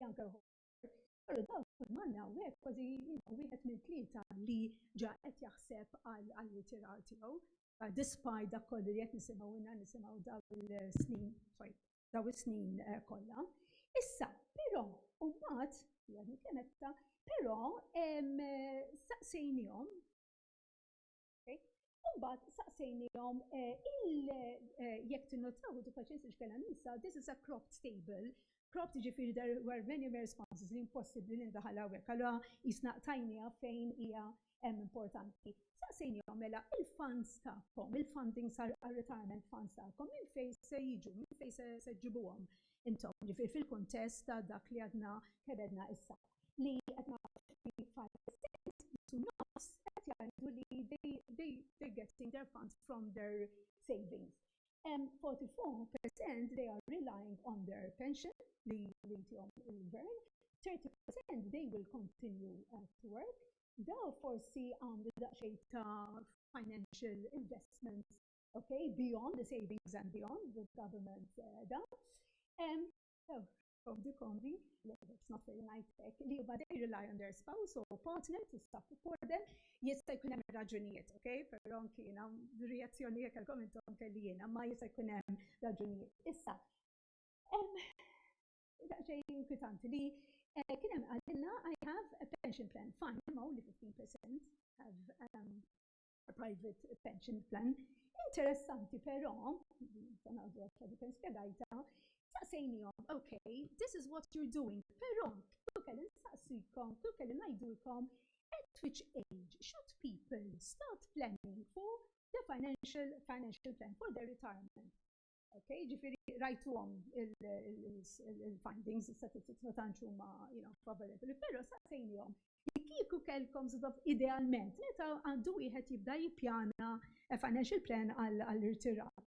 Janker Pero daw kull manna għek kważi jina wieħed minn tlieta li ġa qed jaħseb għal ritirar tiegħu. Despite dak kollu li qed nisimgħu inna nisimgħu daw il-snin, sorry, daw is-snin eh, kollha. Issa, però, u mbagħad, jgħadni kemetta, però saqsejnihom Imbagħad saqsejnihom eh, il eh, jekk tinnotaw dik paċenza x'kellha nisa, this is a cropped table. Cropped ġifieri there were many responses li impossibbli li ndaħal hawnhekk. Allura jisna tajnija fejn hija hemm importanti. Saqsejnihom mela il-funds tagħkom, il-funding sar retirement funds tagħkom minn fejn se jiġu, minn fejn se ġibuhom intom ġifieri fil-kuntest ta' dak li għadna kebedna issa. li qed naraw xi five, six u nofs qed jgħidu li they they're getting their funds from their savings. 44% they are relying on their pension li jtihom il-gvern, 30% they will continue uh, to work. Daw forsi għamlu daqsxejn ta' financial investments, okay, beyond the savings and beyond the government uh, da. Um, so, of the convene, it's not very nice, li huwa they rely on their spouse or partner to support them, jista' jkun hemm raġunijiet, ok? Però anki jiena reazzjoni jekk għalkom intom kelli jiena, ma jista' jkun hemm raġunijiet. Issa, hemm xejn inkwitanti li eh, kien hemm għalilna I have a pension plan, fine, ma' only 15% have um, private pension plan. Interessanti però, sanadu għaxa dik spiegajta, saqsejnijom, ok, this is what you're doing, però kif kelli nsaqsikom, kif kelli ngħidulkom, at which age should people start planning for the financial financial plan for their retirement? Ok, ġifiri rajtuhom il-findings, il-statistics ma tantx huma favorevoli, però sa sejnihom. Kieku kellkom żdob idealment, meta għandu wieħed jibda jippjana eh, financial plan għall-irtirar.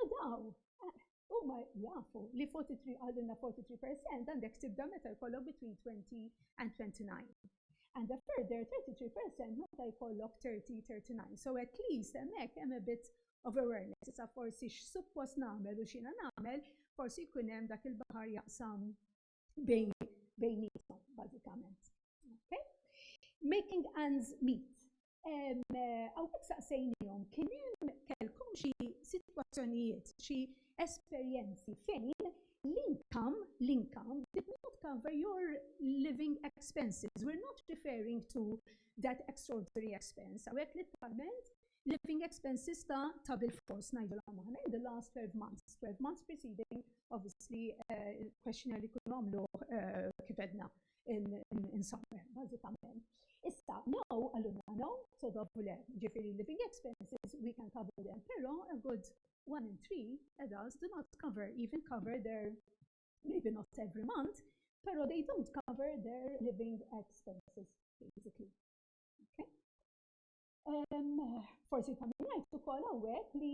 U daw, eh, huma jafu li 43 għalina 43% għandek tibda meta jkollok between 20 and 29. And a further 33% meta jkollok 30-39. So at least hemmhekk hemm a bit of awareness, issa forsi x'suppost nagħmel u x'ina nagħmel, forsi jkun hemm dak il-baħar jaqsam bejn bejnietom bażikament. Okay? Making ends meet. Għawek saqsejnijom, kien hemm kelkom xi situazzjonijiet, xi esperjenzi fejn l-inkam, l-inkam did not cover your living expenses. We're not referring to that extraordinary expense. Għawek literalment Living expenses ta' ta' bil-fors ngħidulhom aħna in the last 12 months, 12 months preceding obviously il-questionnaire li jkunu għamluh kif għedna insomma bażikament. Issa, no, għalunna no, so dobu le, ġifieri living expenses we can cover them, però a good one in three adults do not cover, even cover their, maybe not every month, però they don't cover their living expenses, basically. Okay? Forsi ta' min jgħid ukoll hawnhekk li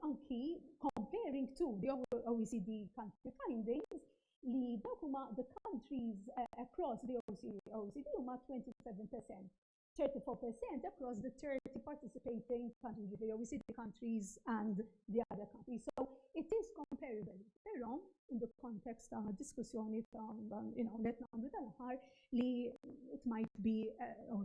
anki comparing to the OECD country findings li dawk huma the countries eh, across the OECD huma 27%. 34% across the 30 participating countries, the OECD countries and the other countries. So it is comparable, però in the context ta' diskussjoni ta' you know, let nagħmlu tal-aħħar li it might be uh,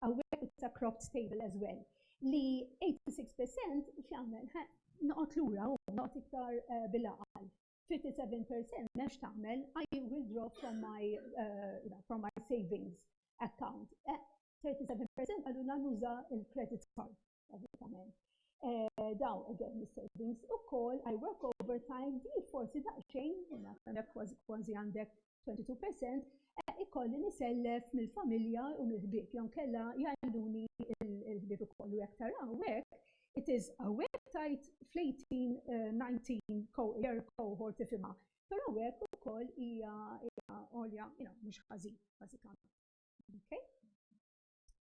hawnhekk it's a cropped table as well, li 86% x'jagħmel? Noqgħod lura hu, noqgħod iktar eh, bil-għaqal. 57% m'hemmx tagħmel, I will draw from my, uh, from my savings account. 37% eh, għallu nuża il-credit card. bażikament. Eh, dawn again savings u kol I work overtime di forsi daqxejn, għandek kważi għandek 22%, eh, ikolli nisellef mill-familja u mill-ħbib, jon kella jgħalluni il-ħbib u kollu jek taraw għek, it is a website fl-18-19 eh, year cohort ifima. Pero għek u kol ija għolja, mux ħazin, basikament. Okay?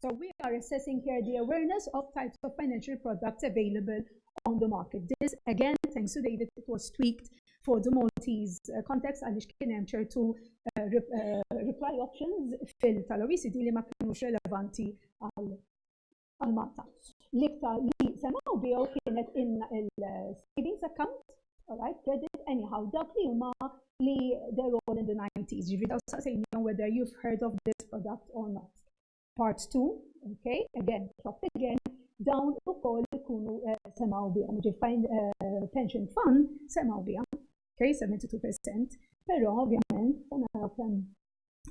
So we are assessing here the awareness of types of financial products available on the market. This, again, thanks to David, it was tweaked for the Maltese uh, context għaliex kien hemm ċertu uh, uh, reply options fil tal-OECD li ma kienux relevanti għal Malta. L-iktar li semaw bihom kienet il-savings account All right, credit, anyhow, dawk li huma li they're all in the 90s, ġivi daw saqsejnijom whether you've heard of this product or not. Part 2, okay, again, top again, dawn u koll ikunu eh, semaw bijom, ġi find eh, pension fund semaw bijom, okay, 72%, pero ovvjament, sena kem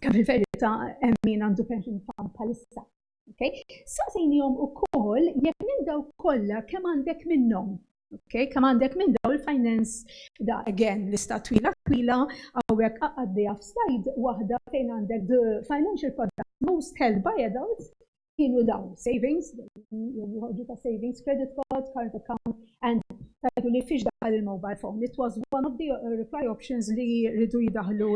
kem il-verita emmin għandu pension fund palissa, Okay? Saqsejnihom ukoll jekk minn daw kollha kemm għandek minnhom. Okay? Kemm għandek minn daw il-finance da again lista twila twila hawnhekk għaddejja f'slide waħda fejn għandek the financial product most held by adults kienu dawn savings, joħorġu ta' savings, credit cards, current account, and tajdu li fiex daħal il-mobile phone. It was one of the reply options li rridu jidaħlu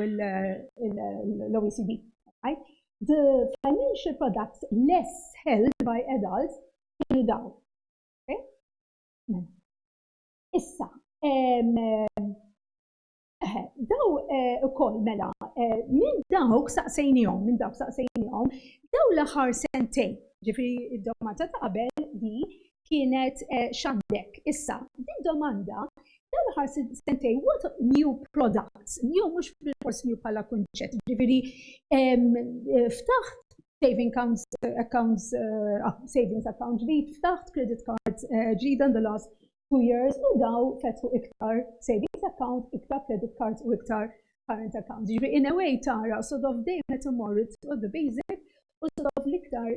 l-OECD. Right? The financial products less held by adults kienu dawn. Mela. Issa, daw eh, ukoll mela, eh, minn dawk saqsejnihom, minn dawk saqsejnihom, daw l-aħħar sentejn, ġifri id-domanda ta' qabel di kienet eh, x'għandek. Issa, din domanda dan l-aħħar sentej, what new products, new mhux bil-fors new bħala kunċett, ġifieri eh, ftaħt saving accounts, eh, accounts uh, savings account ġdid, ftaħt credit cards ġdid uh, the last two years u daw fetħu iktar savings account, iktar credit cards u iktar current accounts. Ġifieri in a way tara sort of dejjem qed imorru the basic u sof l-iktar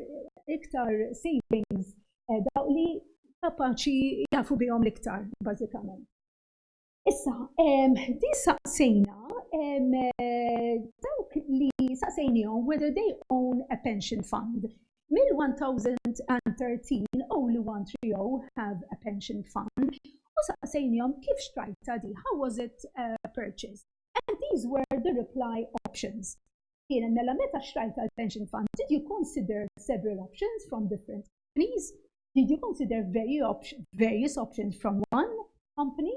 iktar savings eh, dawk li kapaċi jafu bihom l-iktar, bażikament. Issa, di saqsejna eh, dawk li saqsejnijom whether they own a pension fund. Mill-1013 only 130 have a pension fund u saqsejnijom kif xtrajta di, how was it uh, purchased? And these were the reply options. Kienet mela meta xtrajt tal-pension fund, did you consider several options from different companies? Did you consider various options, various options from one company?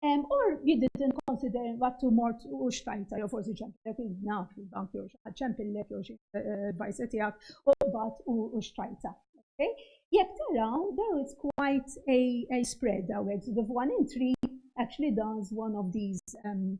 Um, or you didn't consider what to more u xtajta, jew forsi ċempillek il-naf, il-bank jew xaħat ċempillek jew xi eh, bajsa tiegħek u bat u xtajta. Okay? Jekk taraw, there is quite a, a spread għawek, so the one entry actually does one of these um,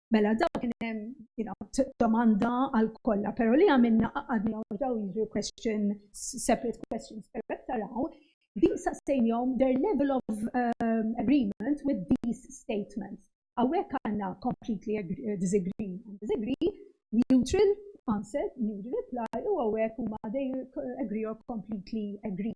Mela daw kien hemm you know, domanda għal kollha, però li għamilna qaqadni għaw daw jiġu question, separate questions, però taraw, din saqsejnjom their level of um, agreement with these statements. Għawek għanna completely uh, disagree and disagree, neutral answer, neutral reply, u għawek u ma they agree or completely agree.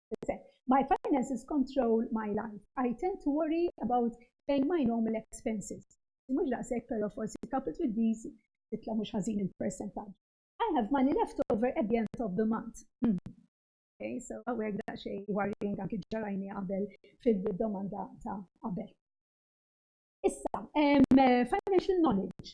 My finances control my life. I tend to worry about paying my normal expenses. Mux daqsek, pero forsi coupled with these, titla mux ħazin il-percentage. I have money left over at the end of the month. Hmm. Okay, so għawek da xej worrying anki ġarajni għabel fil-domanda ta' għabel. Issa, um, financial knowledge.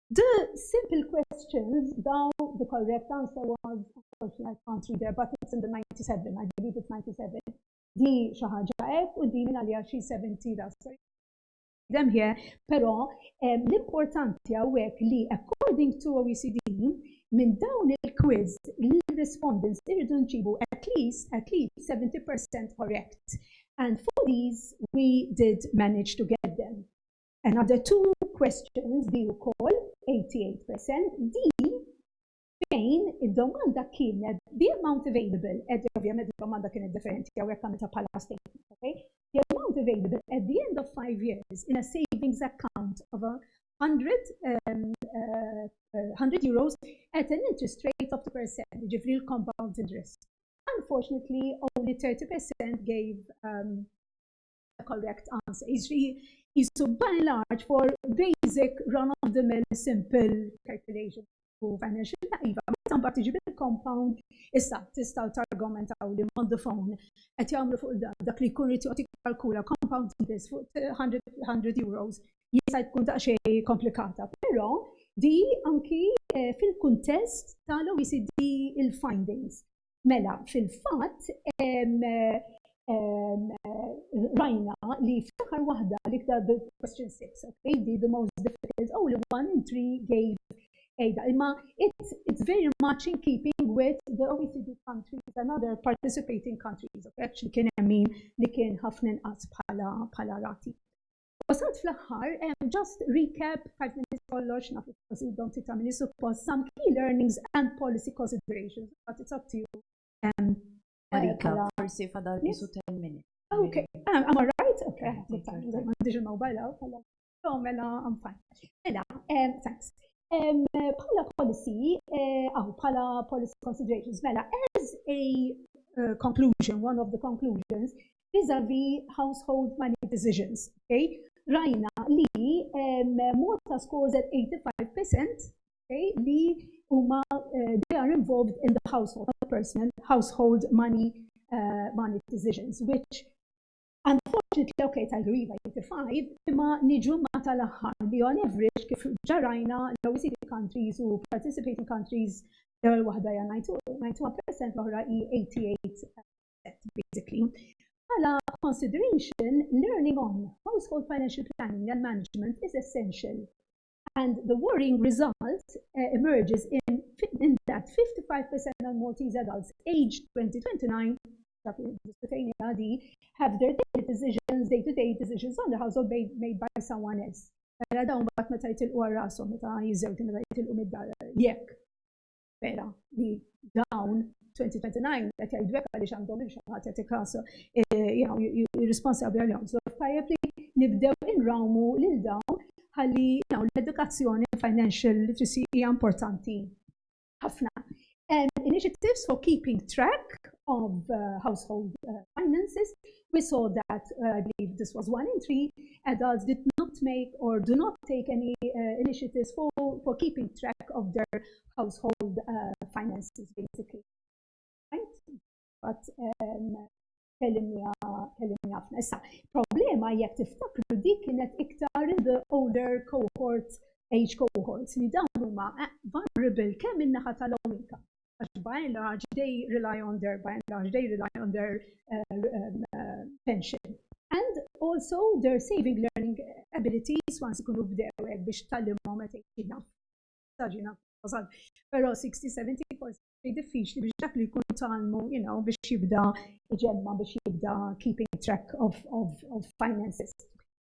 The simple questions, daw, the correct answer was, unfortunately, I can't read there, but it's in the 97, I believe it's 97. Di xaħġa ek, u di minna li għaxi 70 da, sorry. Them here, pero l-importanti għawek li, according to OECD, minn dawn il-quiz l-respondents irridu nġibu at least, at least 70% correct. And for these, we did manage to get them. Another two questions, di wkoll, 88%, din fejn id-domanda kienet the amount available, qed ovvjament id-domanda kienet differenti hawnhekk għamiltha bħala statement, okay? The amount available at the end of five years in a savings account of a 100 um, uh, 100 uh, euros at an interest rate of 2%, ġifri l-compound interest. Unfortunately, only 30% gave um, correct answer. Jiġri jisu by large for basic run-of-the-mill simple calculation u financial iva, meta mbagħad tiġi bil-compound, issa tistgħu targumentaw li on the phone qed jagħmlu fuq dan dak li jkun irid joqgħod jikkalkula compound interest fuq 100 euros jista' jkun daqsxejn komplikata. Però di anki eh, fil-kuntest tal-OECD il-findings. Mela, fil-fatt, rajna li fl-aħħar waħda li ktab question 6, okay, the, the most difficult, only one in three gave Ejda, imma it's, it's very much in keeping with the OECD countries and other participating countries. Actually kien hemm min li kien ħafna inqas bħala rati. U sat fl-aħħar, just recap, għajt minn kollox, naf il-prosit don't it għamili suppos, some key learnings and policy considerations. Għat it's up to you. Marika, eh, forsi fadal bisu 10 minutes. Okay, I'm ah, alright, okay, ma diġi mobile għaw, għalla. So, mela, I'm fine. Mela, thanks. Pala policy, eh, aw, pala policy considerations, mela, as a eh, conclusion, one of the conclusions, vis-à-vis household money decisions. Okay? Rajna li um, Malta scores at 85% okay, li huma uh, they are involved in the household, personal household money uh, money decisions, which Unfortunately, okay, ta' griva 85, imma niġu ma tal-aħħar li on average kif ġarajna l-OECD countries u participating countries l-ewwel waħda hija 92% l-oħra hi 88%. basically. Bħala consideration, learning on household financial planning and management is essential. And the worrying result uh, emerges in, in that 55% of Maltese adults aged 2029 have their daily decisions, day-to-day -day decisions on the household made, made by someone else. Għara mela dawn bat meta jitilqu għal rasom, meta jizzewġu, meta jitilqu mid-dar, jekk vera li dawn 2029 qed jgħidu hekk għaliex għandhom xi ħadd qed ikasu jirrisponsabbli għalihom. So tajjeb li nibdew inrawmu lil dawn ħalli l-edukazzjoni financial literacy hija importanti ħafna. Initiatives for keeping track of uh, household uh, finances We saw that, I believe this was one entry, adults did not make or do not take any initiatives for keeping track of their household finances, basically. Kellimni ħafna. Issa, problema jekk tiftakru dik kienet iktar in the older cohort, age cohorts, li dawn huma vulnerable kemm in-naħa tal-low income għax by and large they rely on their by and large they rely on their uh, um, uh, pension and also their saving learning abilities once ikunu bdew hekk biex tallimhom meta jkun saġina wasal. Però 60-70 forsi diffiċli biex dak li jkun talmu, you know, biex jibda ġemma biex jibda keeping track of, of, of finances.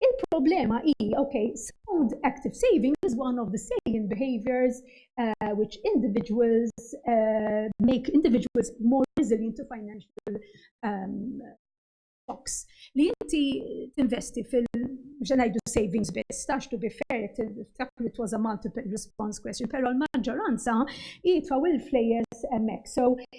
Il-problema hi, okay, sound active saving is one of the salient behaviors uh, which individuals uh, make individuals more resilient to financial um, shocks. Li inti tinvesti fil ġenajdu savings biss, tax to be fair, tiftakru it was a multiple response question, pero l-maġġoranza jitfaw il-flejes emmek. So,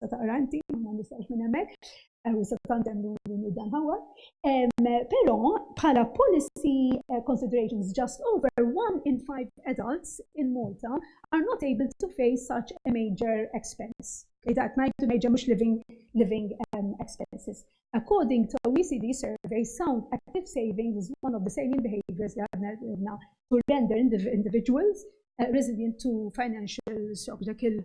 tista' taqra inti, ma nistax minn hemmhekk, eh, u se tandem li dan ħawa. Però bħala policy eh, considerations just over one in five adults in Malta are not able to face such a major expense. Idat najtu major mux living, living um, expenses. According to OECD survey, sound active saving is one of the saving behaviors that to render individuals uh, resilient to financial shock. Dak il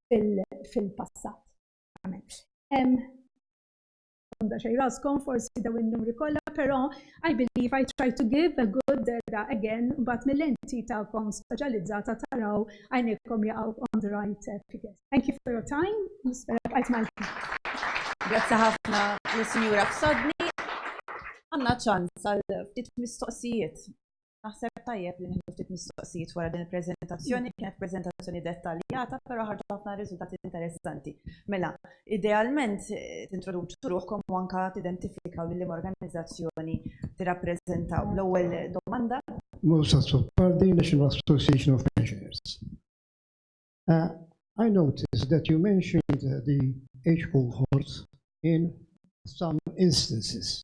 fil-passat. Għanda xej raskom, forsi daw il-numri kolla, pero I believe I try to give a good data again, bat mill-enti ta'kom specializzata taraw għajnekom jaqaw on the right eh, figures. Thank you for your time, nispera bqajt mal Grazie ħafna l-Sinjura Fsodni. Għanna ċans għal ftit mistoqsijiet. Naħseb tajjeb li nieħdu ftit mistoqsijiet wara din il-preżentazzjoni. Kienet preżentazzjoni dettaljata, però ħarġu ħafna riżultati interessanti. Mela, idealment tintroduċu ruħkom u anke tidentifikaw lil liema organizzazzjoni tirrappreżentaw. L-ewwel domanda. Moussa Azzopardi, National Association of Pensioners. I noticed that you mentioned the age cohorts in some instances.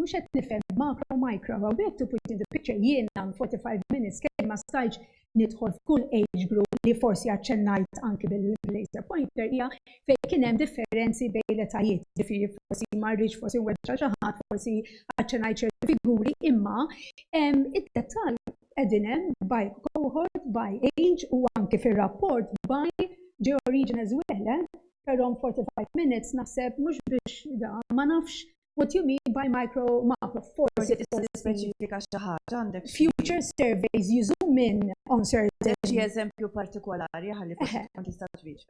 mhux qed nifhem makro micro, how we have to put in the picture jien għam 45 minutes kien ma stajċ nidħol f'kull age group li forsi għacċennajt anki bil-laser pointer hija fejn kien hemm differenzi bejn l-etajiet, ġifieri forsi ma rridx forsi weġġa' xi ħadd, forsi għacċennajt ċerti figuri, imma id-dettall qegħdin hemm by cohort, by age u anki fir-rapport by georigine as well. Però 45 minutes naħseb mhux biex da, ma nafx what you mean by micro macro. Forsi tista' tispeċifika xi ħaġa għandek. Future surveys you zoom in on certain. Xi eżempju partikolari ħalli forsi tkun tista' twieġeb.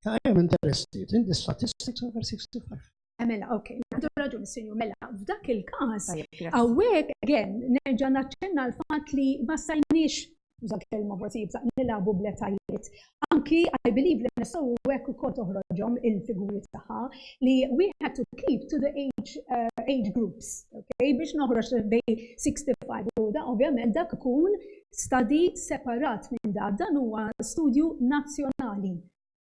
Ta' hemm interested in the statistics over 65. Mela, ok, għandu raġun sinju, mela, f'dak il-kas, għawek, għen, nerġa naċċenna l-fat li ma stajniex, użat kelma forsi jibsaq, nilabu bletajiet. Anki, I believe li nistaw u għek u kol toħroġom il-figuri taħħa li we had to keep to the age, uh, age groups, ok, biex noħroġ bej 65 u da, ovvjament, dak kun stadi separat minn da, dan huwa studju nazjonali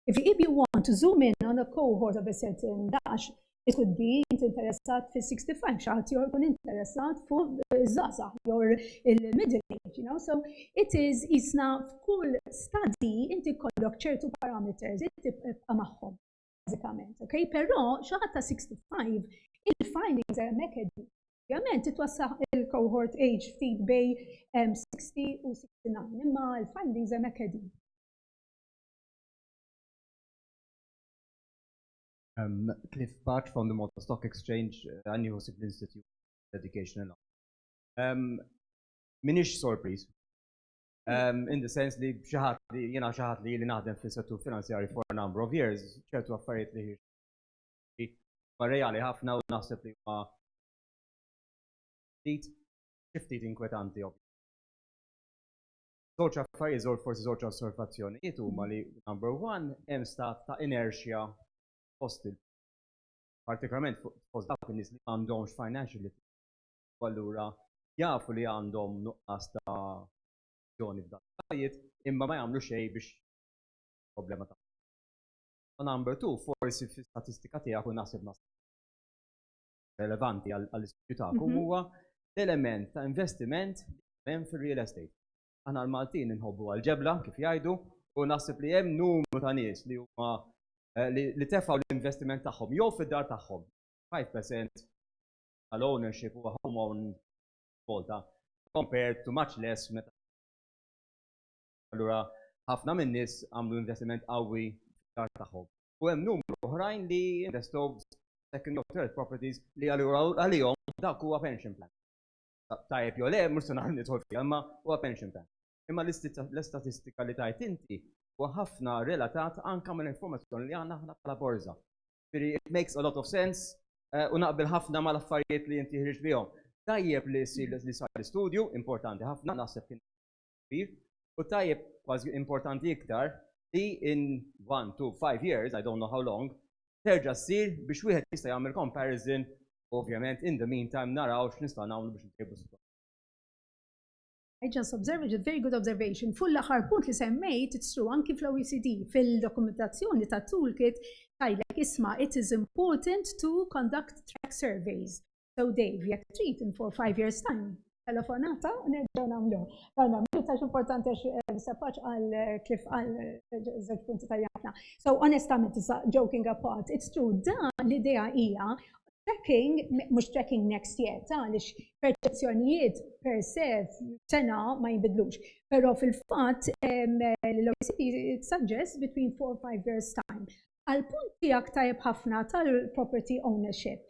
If the EB want to zoom in on a cohort of a certain dash, it could be inti interessat fil-65, xaħat jor kun interessat fuq zaza, jor il-middle age, you know, so it is jisna f'kull study inti kollok ċertu parameters, inti maħħom, bazzikament, ok? Pero xaħat ta' 65, il-findings are mekedi. Ovvijament, titwassaħ il-cohort age ftit bej 60 u 69, imma il-findings are mekedi. Cliff Patch from the Malta Stock Exchange. Għandi ħsieb l-Institute of Education and Knowledge. M'iniex sorpriż, in the sense li xi ħadd, jiena xi ħadd li ili naħdem fis-settur finanzjarju for a number of years, ċertu affarijiet li huma reali ħafna u naħseb li huma ftit inkwetanti. Żewġ affarijiet, żewġ forsi żewġ osservazzjonijiet huma li number one hemm stat ta' inertia fost il partikolarment fost dawk in-nies li m'għandhomx financial literacy. Allura jafu li għandhom nuqqas ta' ġoni f'dan il-affarijiet imma ma jagħmlu xejn biex problema ta' U number two, forsi fi statistika tiegħek u naħseb naħseb relevanti għall-istudju tagħkom huwa l-element ta' investiment hemm fir-real estate. Aħna l-Maltin inħobbu għall-ġebla, kif jgħidu, u naħseb li hemm numru ta' nies li huma li tefgħu l-investiment tagħhom jew fid-dar tagħhom. 5% tal-ownership huwa home own volta compared to much less meta. Allura ħafna min-nies għamlu investiment qawwi fid-dar tagħhom. u hemm numru oħrajn li jinvestow f'second jew third properties li għalihom dak huwa pension plan. Tajjeb jew le, mhux se naħa nidħol fiha, imma huwa pension plan. Imma l-istatistika li tajt inti huwa ħafna relatat anke mal-informazzjoni li għandna aħna bħala borża. Ġifieri it makes a lot of sense u naqbel ħafna mal-affarijiet li inti ħriġt bihom. Tajjeb li sar l-istudju, importanti ħafna, naħseb kien kbir u tajjeb kważi importanti iktar li in one to five years, I don't know how long, terġa' ssir biex wieħed jista' jagħmel comparison u ovvjament in the meantime naraw x'nistgħu nagħmlu biex intejbu s-sitwazzjoni. I just observe it, a very good observation. Fuq l-aħħar punt li semmejt, it's true, anki fl-OECD, fil-dokumentazzjoni ta' toolkit, tajlek isma' it is important to conduct track surveys. So Dave, jekk trid in for five years time, telefonata u nerġgħu nagħmlu. Għalma, minn tax importanti għax eh, sapaċ għal eh, kif għal eh, żewġ punti ta' jafna. So onestament, joking apart, it's true, da l-idea hija tracking, mux tracking next year, ta' li perċezzjonijiet per se sena ma jibidlux. Pero fil-fat, l-OECD suggest between 4 or 5 years time. Għal-punt tijak tajb ħafna tal-property ownership,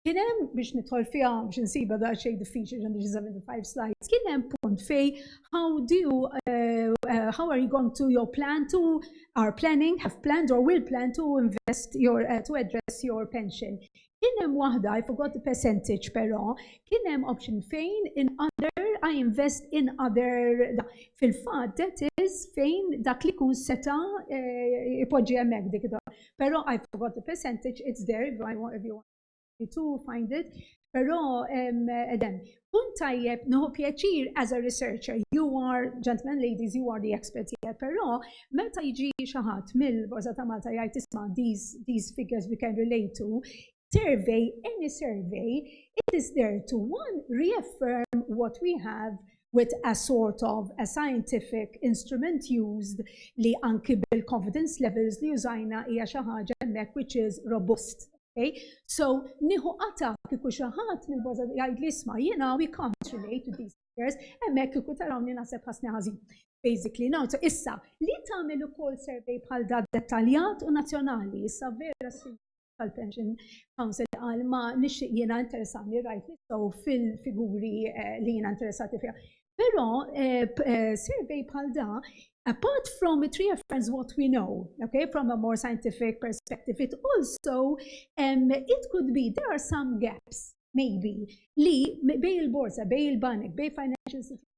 Kien hemm biex nidħol fiha biex insiba da xejn diffiċli ġan xi 75 slides. Kien hemm punt fej how do you, uh, uh, how are you going to your plan to are planning, have planned or will plan to invest your uh, to address your pension. Kien hemm waħda, I forgot the percentage però, kien hemm option fejn in other, I invest in other. Fil-fatt, that is fejn dak li kun seta eh, ipoġġi hemmhekk dik Però I forgot the percentage, it's there if I want if you want to find it. Però edem, kun tajjeb nieħu pjaċir as a researcher. You are, gentlemen, ladies, you are the experts here. Però meta jiġi xi ħadd mill-Borza ta' Malta jgħid isma' these, these figures we can relate to, survey, any survey, it is there to one, reaffirm what we have with a sort of a scientific instrument used li anki bil-confidence levels li użajna hija xi ħaġa hemmhekk which is robust. Okay? So, nieħu qata kieku xi ħadd minn boża jgħid li isma' jiena we can't relate to these figures, hemmhekk kieku tarawni naħseb ħasni ħażin. Basically, now, so issa, li tagħmel ukoll survey bħal da dettaljat u nazzjonali, issa vera tal-Pension Council għal ma nixtieq jiena interessani rajt nistgħu fil-figuri eh, li jiena interessati fiha. Però eh, eh, survey bħal da, apart from it reaffirms what we know, okay, from a more scientific perspective, it also, um, it could be, there are some gaps, maybe, li bej il-borsa, bej il-banek, bej financial institutions,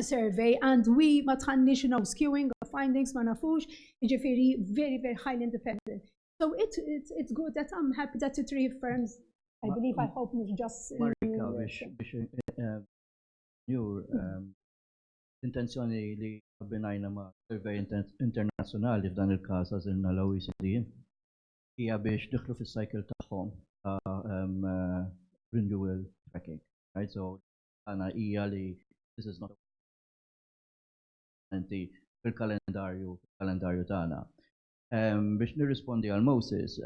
survey and we ma tħanniex you know skewing of findings ma nafux, jiġifieri very very highly independent. So it's, it's, it's good that I'm happy that it reaffirms, I believe, I hope mhux just. Marika biex biex eh, jur eh, intenzjoni li abbinajna ma' survey internazzjonali f'dan il-każ għażilna l-OECD hija biex diħlu fis-cycle tagħhom ta' eh, renewal tracking. Right? So tagħna hija li this is not fil-kalendarju fil-kalendarju tagħna. Biex nirrispondi għal Moses,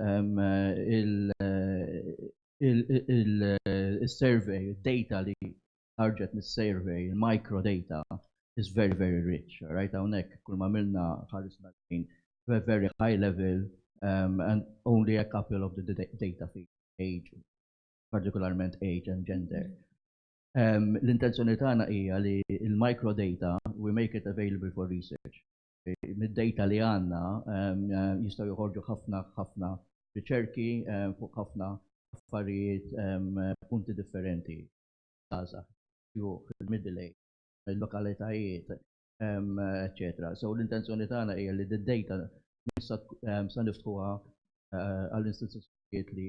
il-survey, id-data li ħarġet mis-survey, il-micro data is very, very rich. Rajt hawnhekk kull ma għamilna ħarisna lejn very high level and only a couple of the data feed, age, partikolarment age and gender. L-intenzjoni tagħna hija li l-micro data we make it available for research. Mid-data li għandna jistgħu joħorġu ħafna ħafna riċerki fuq ħafna affarijiet punti differenti. Żgħażagħ, xjuħ, il-middle age, il-lokalitajiet, eċċetera. So l-intenzjoni tagħna hija li d-data sa niftħuha għall-istituzzjonijiet li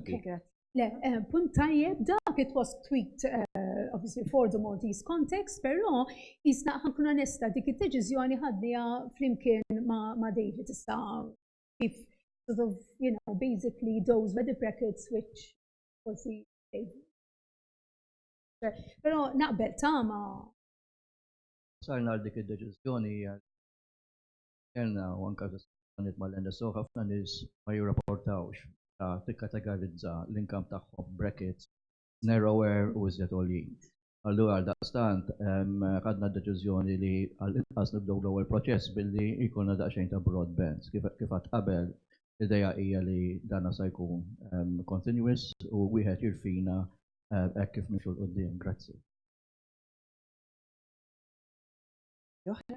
Okay, grazie. Le, eh, punt tajjeb dak it was tweet eh, obviously for the Maltese context, però jisna ħankun onesta dik id-deċiżjoni ħadnija flimkien ma' David issa kif sort of, you know, basically those were the brackets which was the Però naqbel tama. Sarna għal dik id-deċiżjoni kellna u anke diskussjonijiet mal-NSO ħafna nies ma jirrapportawx meta tikkatagarizza l-income tagħhom, brackets, narrower u iżjed għoljin. Allura għaldaqstant ħadna d-deċiżjoni li għal inqas nibdew l-ewwel proċess billi jkollna daqsxejn ta' broad bands. Kif għedt qabel, l-idea hija li dan sa jkun continuous u wieħed jirfina hekk kif nimxu 'l quddiem. Grazzi. Oħra?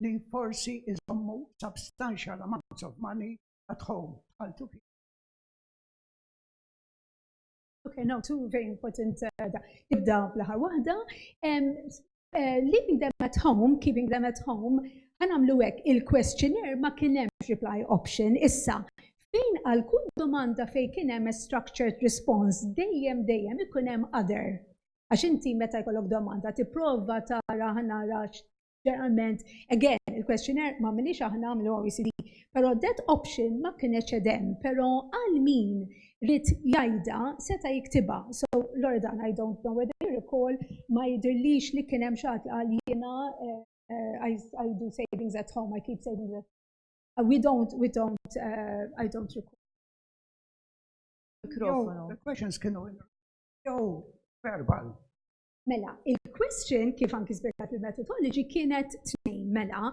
li forsi iżommu substantial amounts of money at home bħal tuħi. Okay, now two very important uh, da. Ibda bl-aħħar waħda. Um, uh, leaving them at home, keeping them at home, għanamlu hekk il-questionnaire ma kien hemm reply option. Issa, fejn għal kull domanda fejn kien hemm structured response, dejjem dejjem ikun hemm other. Għax inti meta jkollok domanda tipprova tara ħanara ġeneralment, again, il-questionnaire ma minix aħna għamlu OECD, pero that option ma kienet edem, pero għal min rrit jajda seta jiktiba. So, Loredan, I don't know whether you recall, ma jidirlix li kienem xat għal jena, uh, eh, I, I do savings at home, I keep savings at home. Uh, we don't, we don't, uh, I don't recall. Mikrofonu. The questions kienu jew verbal. Mela, il-question kif anki spjegat il-methodology kienet tnejn mela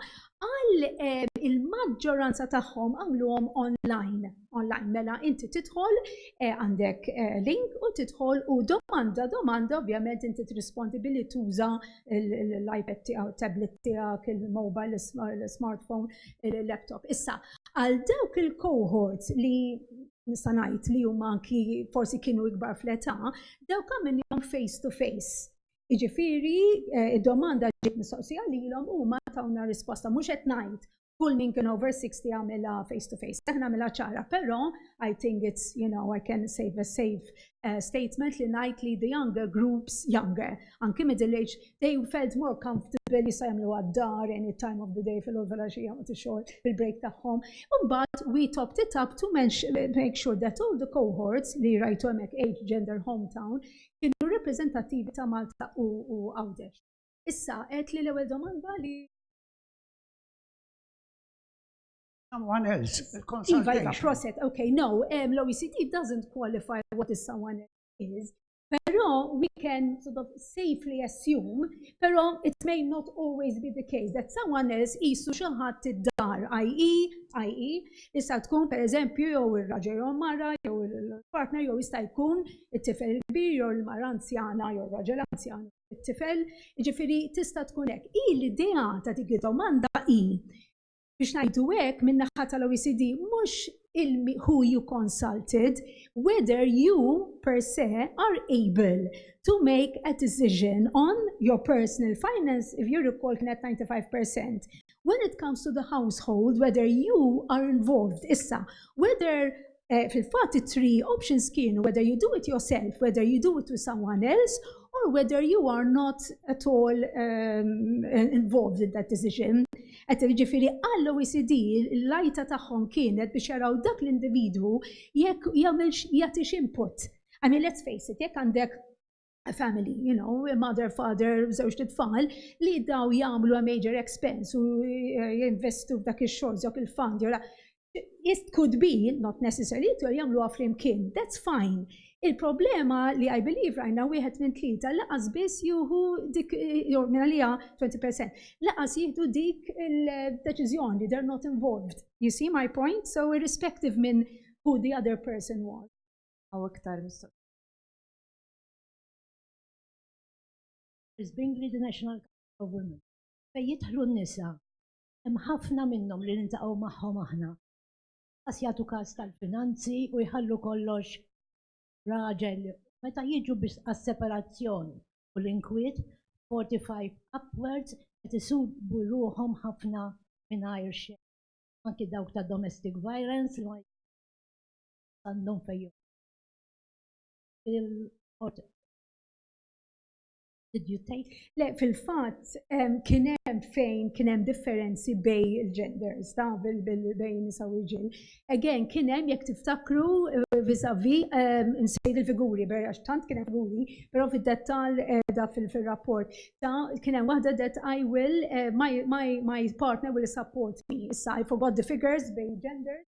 għal eh, il-maġġoranza tagħhom għamluhom online. Online mela inti tidħol eh, għandek eh, link u tidħol u domanda domanda ovvjament inti trispondi billi tuża l-iPad tiegħek, tablet tiegħek, il-mobile, l-smartphone, il-laptop. Issa, għal dawk il-cohorts li nista' ngħid li huma anki forsi kienu ikbar fl-età, dawk għamilhom face to face. Jiġifieri eh, id-domanda ġiet mistoqsija lilhom huma tawna risposta mhux qed ngħid kull min kien over 60 għamilha face to face. Aħna għamilha ċara, però I think it's, you know, I can save a save statement li ngħid li the younger groups, younger, anki middle age, they felt more comfortable li sa jagħmlu għad-dar any time of the day fil-ħolfela xi jagħmlu tixol fil-break tagħhom. Imbagħad we topped it up to make sure that all the cohorts li rajtu hemmhekk age, gender, hometown kienu reprezentattivi ta' Malta u Għawdex. Issa qed li l-ewwel domanda li Someone else, il-consultation. Iva, iva, proset, ok, no, l-OECD doesn't qualify what is someone else is, pero we can sort of safely assume, pero it may not always be the case, that someone else jisu xaħat id-dar, i.e., i.e., jista' tkun per eżempju jew il-raġel jew mara jew il-partner jew jista' jkun it-tifel kbir jew il-mara anzjana jew raġel anzjan it-tifel, ġifiri tista' tkun hekk. I l-idea ta' dik domanda i biex ngħidu hekk min-naħa tal-OECD mhux who you consulted, whether you per se are able to make a decision on your personal finance, if you recall kienet 95%. When it comes to the household, whether you are involved. Issa, whether Fil-fatt it-three options kienu whether you do it yourself, whether you do it with someone else, or whether you are not at all involved in that decision. Qed jiġifieri għall-OECD l-għajta tagħhom kienet biex jaraw dak l-individwu jekk jagħmilx jagħtix input. I mean let's face it, jekk għandek a family, you know, a mother, father, żewġt tfal, li daw jagħmlu a major expense u eh, jinvestu f'dak ix-xogħol żok il-fund jew It could be, not necessarily, to jagħmlu għafrim kien. That's fine. Il-problema li I believe rajna wieħed minn tlieta laqas biss juhu dik eh, jew minn għalija 20% laqas jieħdu dik il-deċiżjoni, they're not involved. You see my point? So irrespective minn who the other person was. Aw iktar mistoqsija. Bingley the National Council of Women. Fejn jidħlu n-nisa, hemm ħafna minnhom li niltaqgħu magħhom aħna. Qas jagħtu każ tal-finanzi u jħallu kollox raġel. Meta jiġu biex għas-separazzjoni u l-inkwiet, 45 upwards qed isibu ruħhom ħafna mingħajr xejn. Anki dawk ta' domestic violence li ma għandhom fejn il-ħodor. Did you take? Le, fil-fatt, kien hemm fejn kien hemm differenzi bej il-genders, ta' bejn nisa u rġil. Again, kien hemm jekk tiftakru vizavi nsejt il-figuri, għax tant kien hemm figuri, però fid-dettal da fil-rapport. Ta' kien hemm waħda that I will, my partner will support me. Issa, I forgot the figures bejn genders.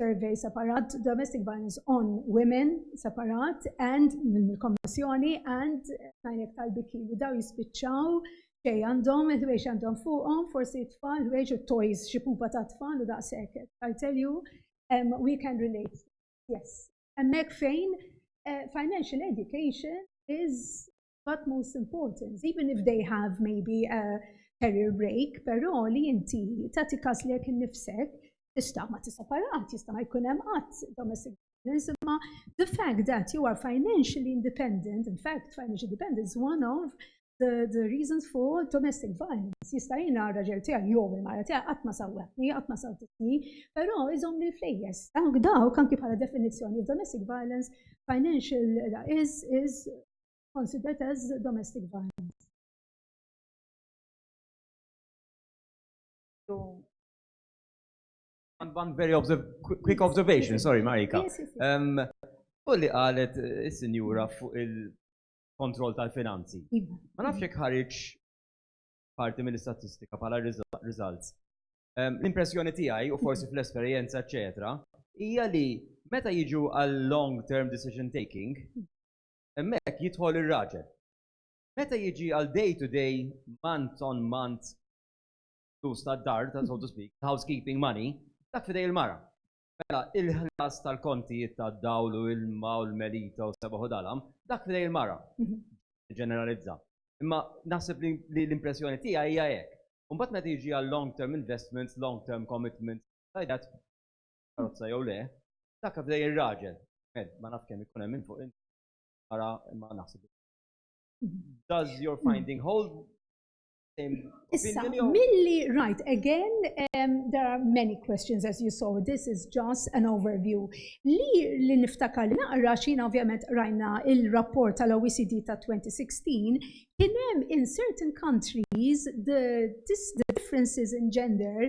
survey separat, domestic violence on women separat, and mill-kommissjoni, and tajnek tal-biki li daw jispiċċaw xej għandhom, il-ħwejx għandhom fuqhom, forsi tfal, ħwejx u toys, xi pupa ta' tfal u daqshekk. I tell you, um, we can relate. Yes. Hemmhekk fejn uh, financial education is but most important, even if they have maybe a career break, però li inti tagħti każ li jekk innifsek tista' ma tisaparat, jista' ma jkun hemm qatt domestic violence, imma the fact that you are financially independent, in fact financial independence is one of the, the reasons for domestic violence. Jista' jiena raġel tiegħi jew il-mara tiegħi qatt ma sawwatni, qatt ma sawtitni, però iżomm li flejjes. Dawk dawk anki bħala definizzjoni domestic violence financial is is considered as domestic violence. One very observ quick observation, sorry Marika. Um, u li qalet eh, is-sinjura fuq il-kontroll tal-finanzi. Iva. Ma nafx jekk ħariġ parti mill-istatistika bħala results. Um, L-impressjoni tiegħi u forsi fl-esperjenza, eċetera, hija li meta jiġu għal long term decision taking, hemmhekk jidħol ir-raġel. Meta jiġi għal day to day, month on month, flus tad-dar, so to speak, housekeeping money, dak fidej il-mara. Mela, il-ħlas tal-kontijiet tad-dawl u l-ilma u l-melita u s-sebaħ u dalam, dak fidej il-mara. Ġeneralizza. Imma naħseb li l-impressjoni tiegħi hija hekk. Imbagħad meta jiġi għal long-term investments, long-term commitments, like that, karozza jew le, dak għaddej ir-raġel. Ma naf kemm ikun hemm minn fuq ara ma naħseb. Does your hmm. finding hold Issa, milli, right, again, um, there are many questions as you saw, this is just an overview. Li li niftakar li naqra xina ovvjament rajna il-rapport tal-OECD ta' 2016, kienem in certain countries the, this, the differences in gender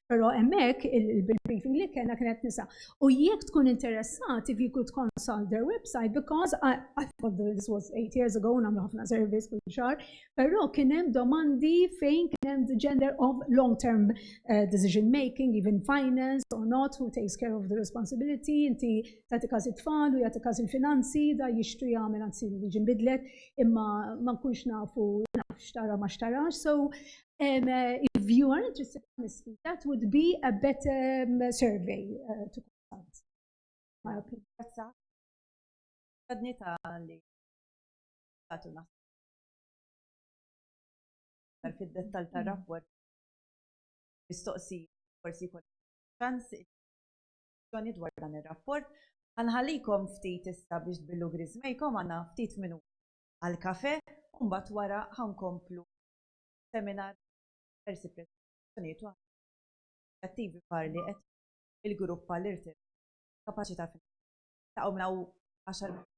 Pero emmek il-briefing li kena kienet nisa. U jek tkun interessat, if you could consult their website, because I, I thought this was eight years ago, namlu ħafna service kull xar, pero kienem domandi fejn kienem the gender of long-term uh, decision making, even finance or not, who takes care of the responsibility, inti tati każ it-tfal u jati każ il-finanzi, da jixtri jagħmel anzi li ġimbidlet, imma ma nkunx nafu naf xtara ma xtarax, so Um, uh, if you are interested, honestly, that would be a better um, survey uh, to consult. My opinion. Għadni ta' li għatu naħseb fil-dettal ta' mm-hmm. rapport mistoqsi forsi kol ċans il-ġoni dwar dan il-rapport għanħalikom ftit issa biex billu grizmejkom għanna ftit minu għal-kafe un bat wara għankomplu seminar diversi preżentazzjonijiet u inizjattivi oħra li qed il-grupp għal irtirar kapaċità finanzjarja. Niltaqgħu minn hawn għaxar minuti.